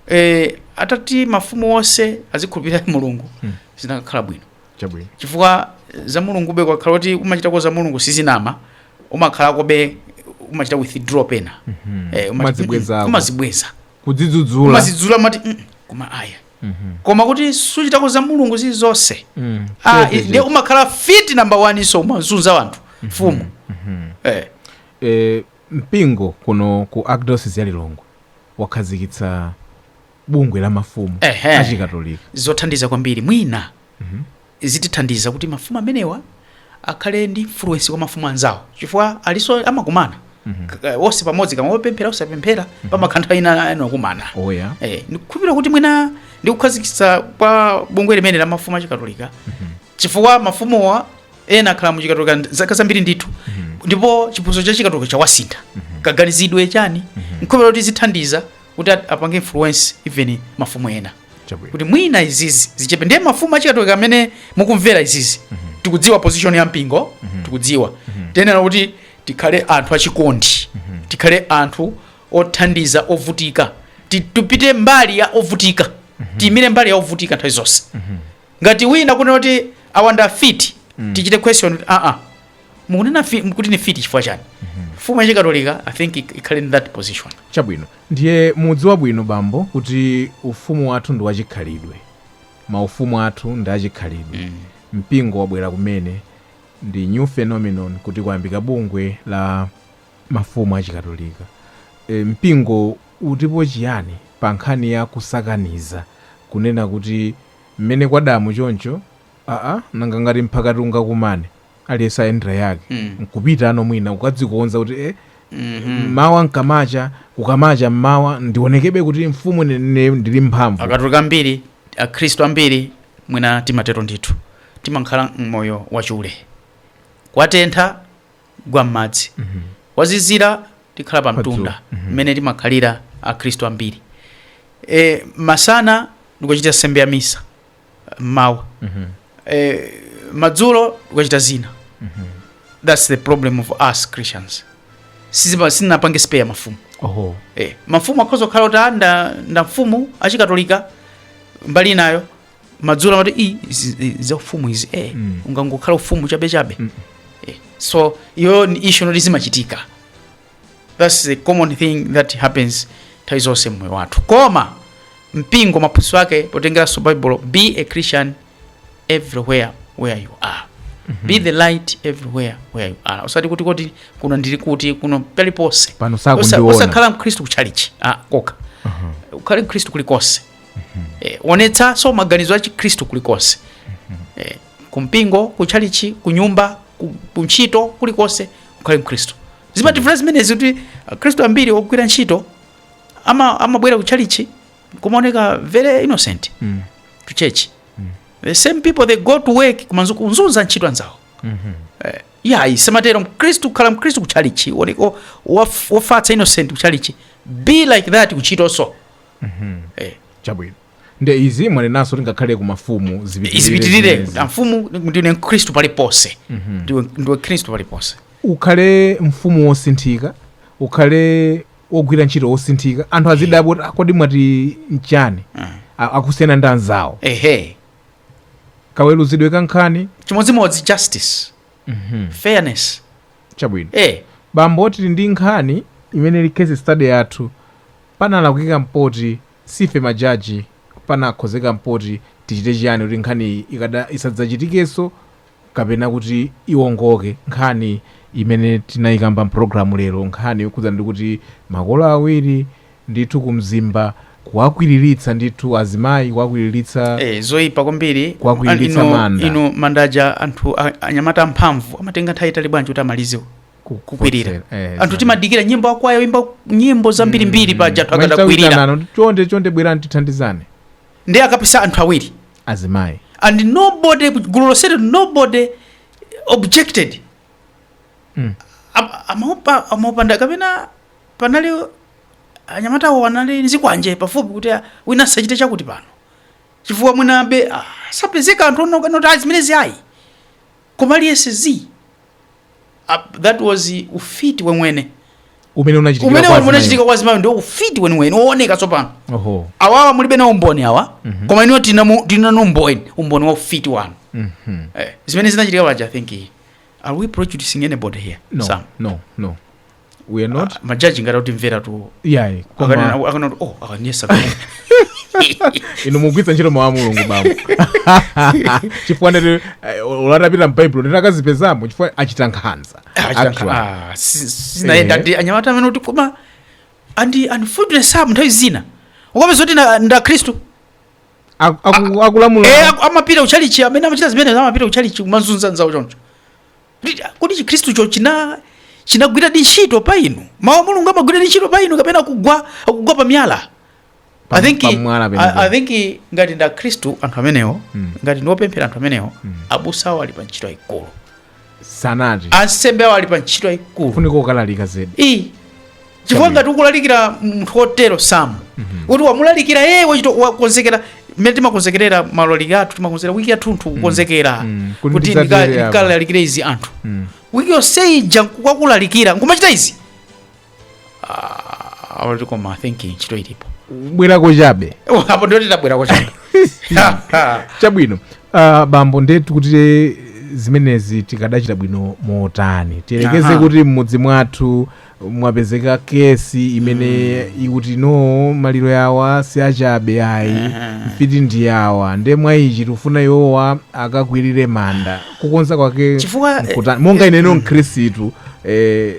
eh, atati mafumu onse azikhulupirira mulungu Mm. zikanakhala bwino chabwino chifukwa za mulungube kukakhala kuti umachitako za mulungu sizonama umakhalakobe umachita withdraw pena Mhm. Eh, umati, Umazibwezako. "Mm, umazibweza kudzidzudzula umadzidzudzula umati "Mm, koma aya Mhm. koma kuti suchitako za mulungu zilizonse Mm. Ah, Chete, ndiye chete. umakhala mfiti namba 1 so umazunza wanthu mfumu Mhm. eh. Eh, Mpingo kuno ku Archdiocese ya Lilongwe wakhazikitsa bungwe la mafumu Ehe. achikatolika. zothandiza kwambiri mwina zitithandiza kuti mafumu amenewa akhale ndi influence kwa mafumu anzawo chifukwa naonso amakumana K- onse pamodzi kaya opemphera osapemphera pamakhala nthawi ina yake amakumana Oh, yeah. eh, ndikukhulupirira kuti mwina ndikukhazikitsa kwa bungwe limeneli la mafumu achikatolika chifukwa mafumuwa ena akhala mu chikatolika nd- zaka zambiri ndithu ndipo chiphunzitso cha chikatolika chawasintha kaganizidwe chani nkhulupirira kuti zithandiza kuti at- apange influence even mafumu ena Chabwino. kuti mwina izizi zichepe ndiye mafumu achikatolika amene mukumvera izizi tikudziwa position ya mpingo tikudziwa tiyenera kuti tikhale anthu achikondi tikhale anthu othandiza ovutika Ti- tipite mbali ya ovutika tiyimire mbali ya ovutika nthawi zonse ngati wina kunena kuti awa ndi afiti tichite question kuti aa mukunena fi- kuti ni fiti chifukwa chani mfumu yachikatolika i think ik- ikhale in that position chabwino ndiye mudziwa bwino bambo kuti ufumu wathu ndi wachikhalidwe maufumu athu ndi achikhalidwe mpingo wabwera kumene ndi new phenomenon kuti kuyambika bungwe la mafumu achikatolika e, mpingo utipo chiyani pa nkhani ya kusakaniza kunena kuti mmene kwadamo choncho aa nanga ngati mphaka tingakumane aliyense ayendera yake nkupitanso mwina kukadzikonza kuti e mmawa mkamacha kukamacha mmawa ndionekebe kuti mfumu ine ine ndili mphamvu akatolika ambiri akhristu ambiri mwina timatero ndithu timakhala mmoyo wachule kwatentha gwa m'madzi kwazizira tikhala pa mtunda mmene timakhalira akhristu ambiri e, masana tikachita nsembe ya misa mmawa e, madzulo tikachita zina that's the problem of us christians Sizipa- sinapange spare mafumu oho e, mafumu akhoza kukhala kuti ndi ndi mfumu achikatolika mbali inayo madzulo amati "Ii, izi- izi za ufumu izi eh Mm. ungangokhala ufumu chabe chabe Mm. eh, so iyo ni issue yoti zimachitika that's the common thing that happens nthawi zonse mmoyo wathu koma mpingo maphunzitso ake potengeranso baibulo be a christian everywhere where you are be the light everywhere where you are usati kuti kuti kuno ndili kuti kuno paliponse pano Osa- sakundiona osakhala mkhristu kuchalichi ah, kokha ukhale mkhristu kulikonse e, onetsanso maganizo a chikhristu kulikonse e, kumpingo kutchalichi kunyumba ku- kuntchito kulikonse ukhale mkhristu zimativula zimenezi kuti akhristu ambiri ogwira ntchito ama- amabwera kutchalichi kumawoneka very innocent Mm. to church the same people they go to work koma nzu- kunzunza ntchito anzawo Eh, yayi samatero mkhristu kukhala mkhristu kutchalichi wooneka wofatsa innocent kutchalichi be like that kuntchitonso Eh. chabwino nde izi mwanenanso kuti ngakhale ku mafumu zipitirire zipitirire zimenezi. amfumu ndiwe mkhristu paliponse ndiwe ndiwe mkhristu paliponse ukhale mfumu wosinthika ukhale wogwira ntchito wosinthika anthu azidabwa kuti "Ah, kodi mwati nchiyani A- akusiyana ndi anzawo ehe kaweluzidwe ka nkhani chimodzimodzi justice fairness chabwino eh bambo tili ndi nkhani imene ili case study yathu panalakwika mpoti sife majaji panakhozeka mpoti tichite chiyani kuti nkhani ika isadzachitikenso kapena kuti iwongoke nkhani imene tinayikamba mpulogalamu lero nkhani yokhudza ndi kuti makolo awiri ndithu ku mzimba kuwakwiriritsa ndithu azimayi kuwakwiriritsa Eh, zoipa kwambiri Kuwakwiriritsa Inu- manda. inu mandaja anthu a- anyamata amphamvu amatenga nthawi yaitali bwanji kuti amalizewo ku- kukwirira eh, anthu exactly. timadikira nyimbo akwaya aimba nyimbo zambirimbiri paja anthu Mwachita akadakwirira kuitanana kuti chonde chonde bwerani tithandizane ndi akapisa anthu awiri azimayi and nobody gulu lonselo nobody objected Mm. Am- amaopa amaopa nda kapena panali anyamata awo anali ndi zikwanje pafupi kuti ah, wina asachite chakuti pano chifukwa mwinabe ah, sanapezeke anthu onena kuti ayi zimenezi ayi koma aliyense zi Ah, that was ufiti wemwene umene unachitika umene kwa azimayi. unachitika kwa zimayi ndiwo ufiti weniweni wooneka tsopano oho awawa mulibe na umboni awa koma inuyo tinamu- tinawo umboni umboni wa ufiti wanu Mhm. eh, zimene zinachitika paja i think are we prejudicing anybody here no Sam? no no we are not majaji ngati akutimvera tu iyayi koma akanena akanena kuti oh akanyoza inu mugwiritsa ntchito mawu a mulungu bambo chifukwa atapita m'baibulo ndati akazipezamo chifukwa achita nkhanza Actually. sinayenda Eh. ndi anyamata amene kuti koma andi andifundire samu nthawi zina ukapeza kuti na- ndi akhristu Aku- aku- Eh, akulamula aku- amapita kuchalichi amene amachita zimene amapita kuchalichi kumanzunza nzawo choncho Kodi Chikhristucho china, chinagwiradi ntchito pa inu? Mawu a Mulungu amagwiradi ntchito pa inu kapena akugwa, kugwa pa miyala? Pa- I think, pa mwala I, penipeni. I think ngati ndi Akhristu anthu amenewo, ngati ndi opemphera anthu amenewo, abusa awo ali pa ntchito yayikulu. sanati Ansembe awo ali pa ntchito yayikulu. funika kulalika zedi Iyi chifukwa ngati ukulalikira munthu wotero sikuti wamulalikira yeye wachita wakonzekera mmene timakonzekerera maulaliki athu timakonzekera wiki yathunthu kukonzekera Mm. Kuti kuti ndidzatere ndika- apa. ndikalalikire izi anthu Mm. wiki yonse ija nkukalalikira nkumachita izi Ah, already koma I think ntchito ilipo bwerako chabe apo ndiyo tidzabwereko chabwino uh, bambo nde tikutire zimenezi tikadachita bwino motani tiyerekeze Aha. kuti m'mudzi mwathu mwapezeka kesi imene ikuti no maliro yawa si achabe ayi Aha. mfiti ndi yawa nde mwa ichi tikufuna iwowa akakwirire manda kukonza kwake Chifukwa, eh, nkuta- monga ineno mkhristu eh,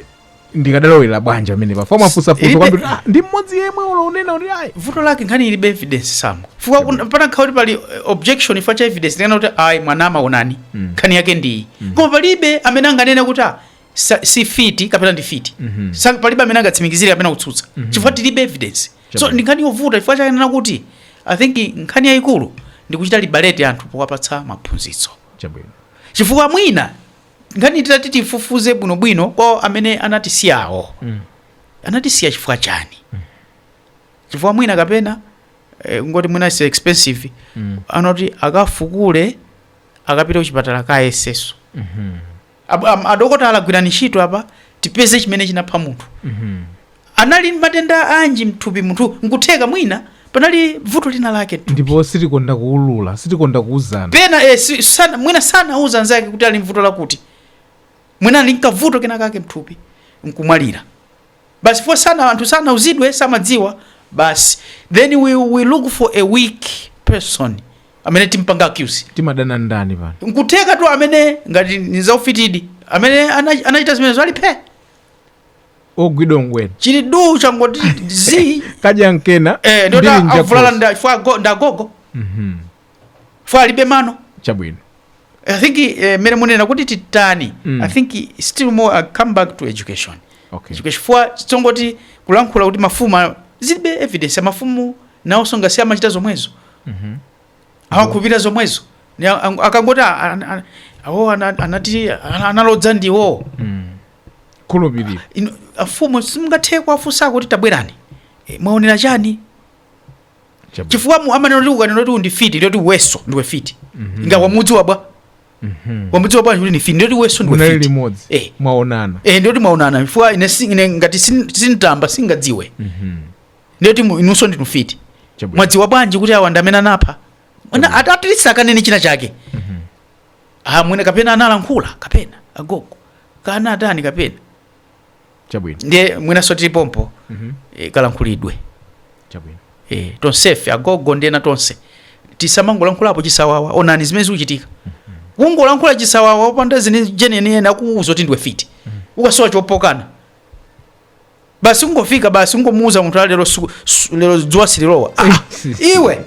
ndikadalowera bwanji pamenepa Father afusafusa Ilibe- kwambiri "Ah, ndi mmodzi yemweyo ndinena kuti ayi vuto lake nkhani ilibe evidence samo chifukwa kuna- pana khawa kuti pali eh, objection chifukwa cha evidence ndikana kuti ayi mwana amaonani nkhani yake ndiyi koma palibe amene anganene kuti ah, sa, si mfiti kapena ndi mfiti Sa- palibe amene angatsimikizire kapena kutsutsa chifukwa tilibe evidence so Chabwino. ndi nkhani yovuta chifukwa chake ndinena kuti i think nkhani yayikulu ndi kuchita libaleti anthu powapatsa maphunzitso chabwino chifukwa mwina nkhani titati tifufuze bwinobwino kwa amene anatisiyawo Mm. anatisiya chifukwa chiyani chifukwa mwina kapena eh, nkuti mwina it's expensive Mm. kunati akafukule akapite kuchipatala akayezetse Mhm. Ab- am- adokotala gwirani ntchito apa tipeze chimene chinapha munthu anali ndi matenda anji mthupi munthu nkutheka mwina panali vuto lina lake mthupi. ndipo sitikonda kuulula sitikonda kuuzana pena eh, si, sana, mwina sanauza anzake kuti ali ndi vuto lakuti mwina ali nkavuto kena kake mthupi nkumwalira basi chifukwa sana anthu sanauzidwe samadziwa basi then we, we look for a weak person amene timpange accuse timadana ndani pano nkuthekatu amene ngati ni zaufitidi amene ana- anachita zimenezo ali phee ogwidwa ngwina chili du changoti zi kadya nkena, eh, ndoti ndili njakhosi. avulala nda- chifukwa ago- ndi agogo chifukwa alibe mano chabwino i think eh, mmene munena kuti titani Mm. i think still more I come back to education okay education chifukwa sizongoti kulankhula kuti mafumu a- zilibe evidence amafumu nawonso ngati amachita zomwezo Mhm. amakhulupirira zomwezo Ni a- ang- akangoti a- a- a- awo ana- anati ana- analodza ndiwo Mm. khulupirira Inu- afumu simungathe kuwafunsa kuti tabwerani Eh, mwaonera chani Chabwino. chifukwa mu- amanena kuti ukanena kuti uyu ndi mfiti ndiye kuti iwenso ndiwe mfiti nanga wamudziwa bwa wamudziwa bwa kuti ndi mfiti ndiye kuti iwenso ndiwe munali mfiti limodzi Eh. mwaonana eh ndiye kuti mwaonana chifukwa ine si- ine ngati sin- sintamba sindingadziwe ndiye kuti mu- inunso ndinu mfiti Chabwino. mwadziwa bwanji kuti awa ndi amene anapha Mwana- at- at least akanene china chake ah mwina kapena analankhula kapena agogo kana atani kapena chabwino ndiye mwinanso tili pompo Mhm. eh, kalankhulidwe chabwino eh, tonsefe agogo ndi ena tonse tisamangolankhulapo chisawawa onani zimene zikuchitika kungolankhula chisawawa opanda zenizeni ena akuuza kuti ndiwe fiti ukasowa chokana basi kungofika basi kungomuuza munthu "Ah, lero siku- su- lero dzuwa sililowa ah, iwe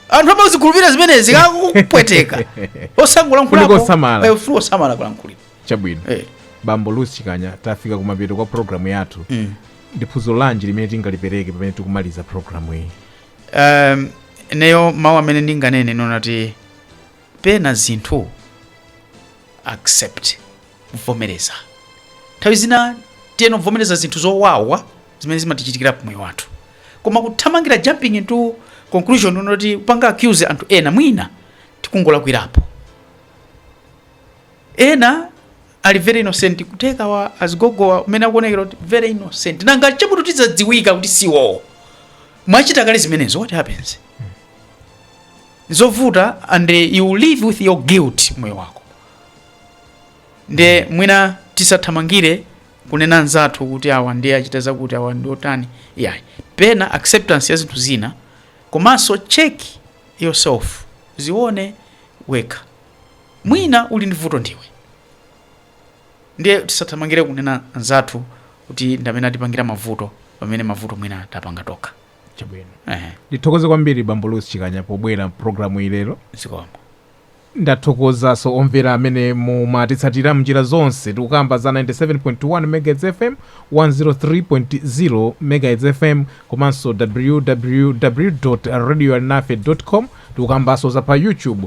anthu amazikhulupirira zimenezi kakupweteka Kuli kosamala. kusamala kalankhulidwe chabwino Eh. bambo Louis Chikanya tafika kumapeto kwa programu yathu Mm. ndi phunziro lanji limene tingalipereke pamene tikumaliza programu iyi um, ineyo mawu amene ndinganene ndi onena kuti pena zinthu accept kuvomereza nthawi zina tiyeni tivomereze zinthu zowawa zimene zimatichitikira pamoyo wathu koma kuthamangira jumping into conclusion onena kuti kupanga accuse anthu ena mwina tikungolakwirapo ena ali very innocent kutheka awa azigogowa mmene akuonekera kuti very innocent nanga chabe tu zidzadziwika kuti si iwowo mwachita kale zimenezo what happens zovuta and eh, you live with your guilt m'moyo wako nde mwina tisathamangire kunena anzathu kuti awa ndiye achita zakuti awa ndi otani yeah. pena acceptance ya zinthu zina komanso check yourself dzione wekha Mwina uli ndi vuto ndiwe. Ndiye tisathamangire kunena anzathu kuti ndi amene atipangira mavuto pamene mavuto mwina tapanga tokha. Chabwino. Ehe. Ndithokoze kwambiri Bambo Louis Chikanya pobwera m'pulogalamuyi lero. Zikomo. Ndathokozanso omvera amene mumatitsatira m'njira zonse. Tikukamba za 97.1 MHz FM, 103.0 MHz FM komanso ww.radioalinafe.com. Tikukambanso za pa YouTube.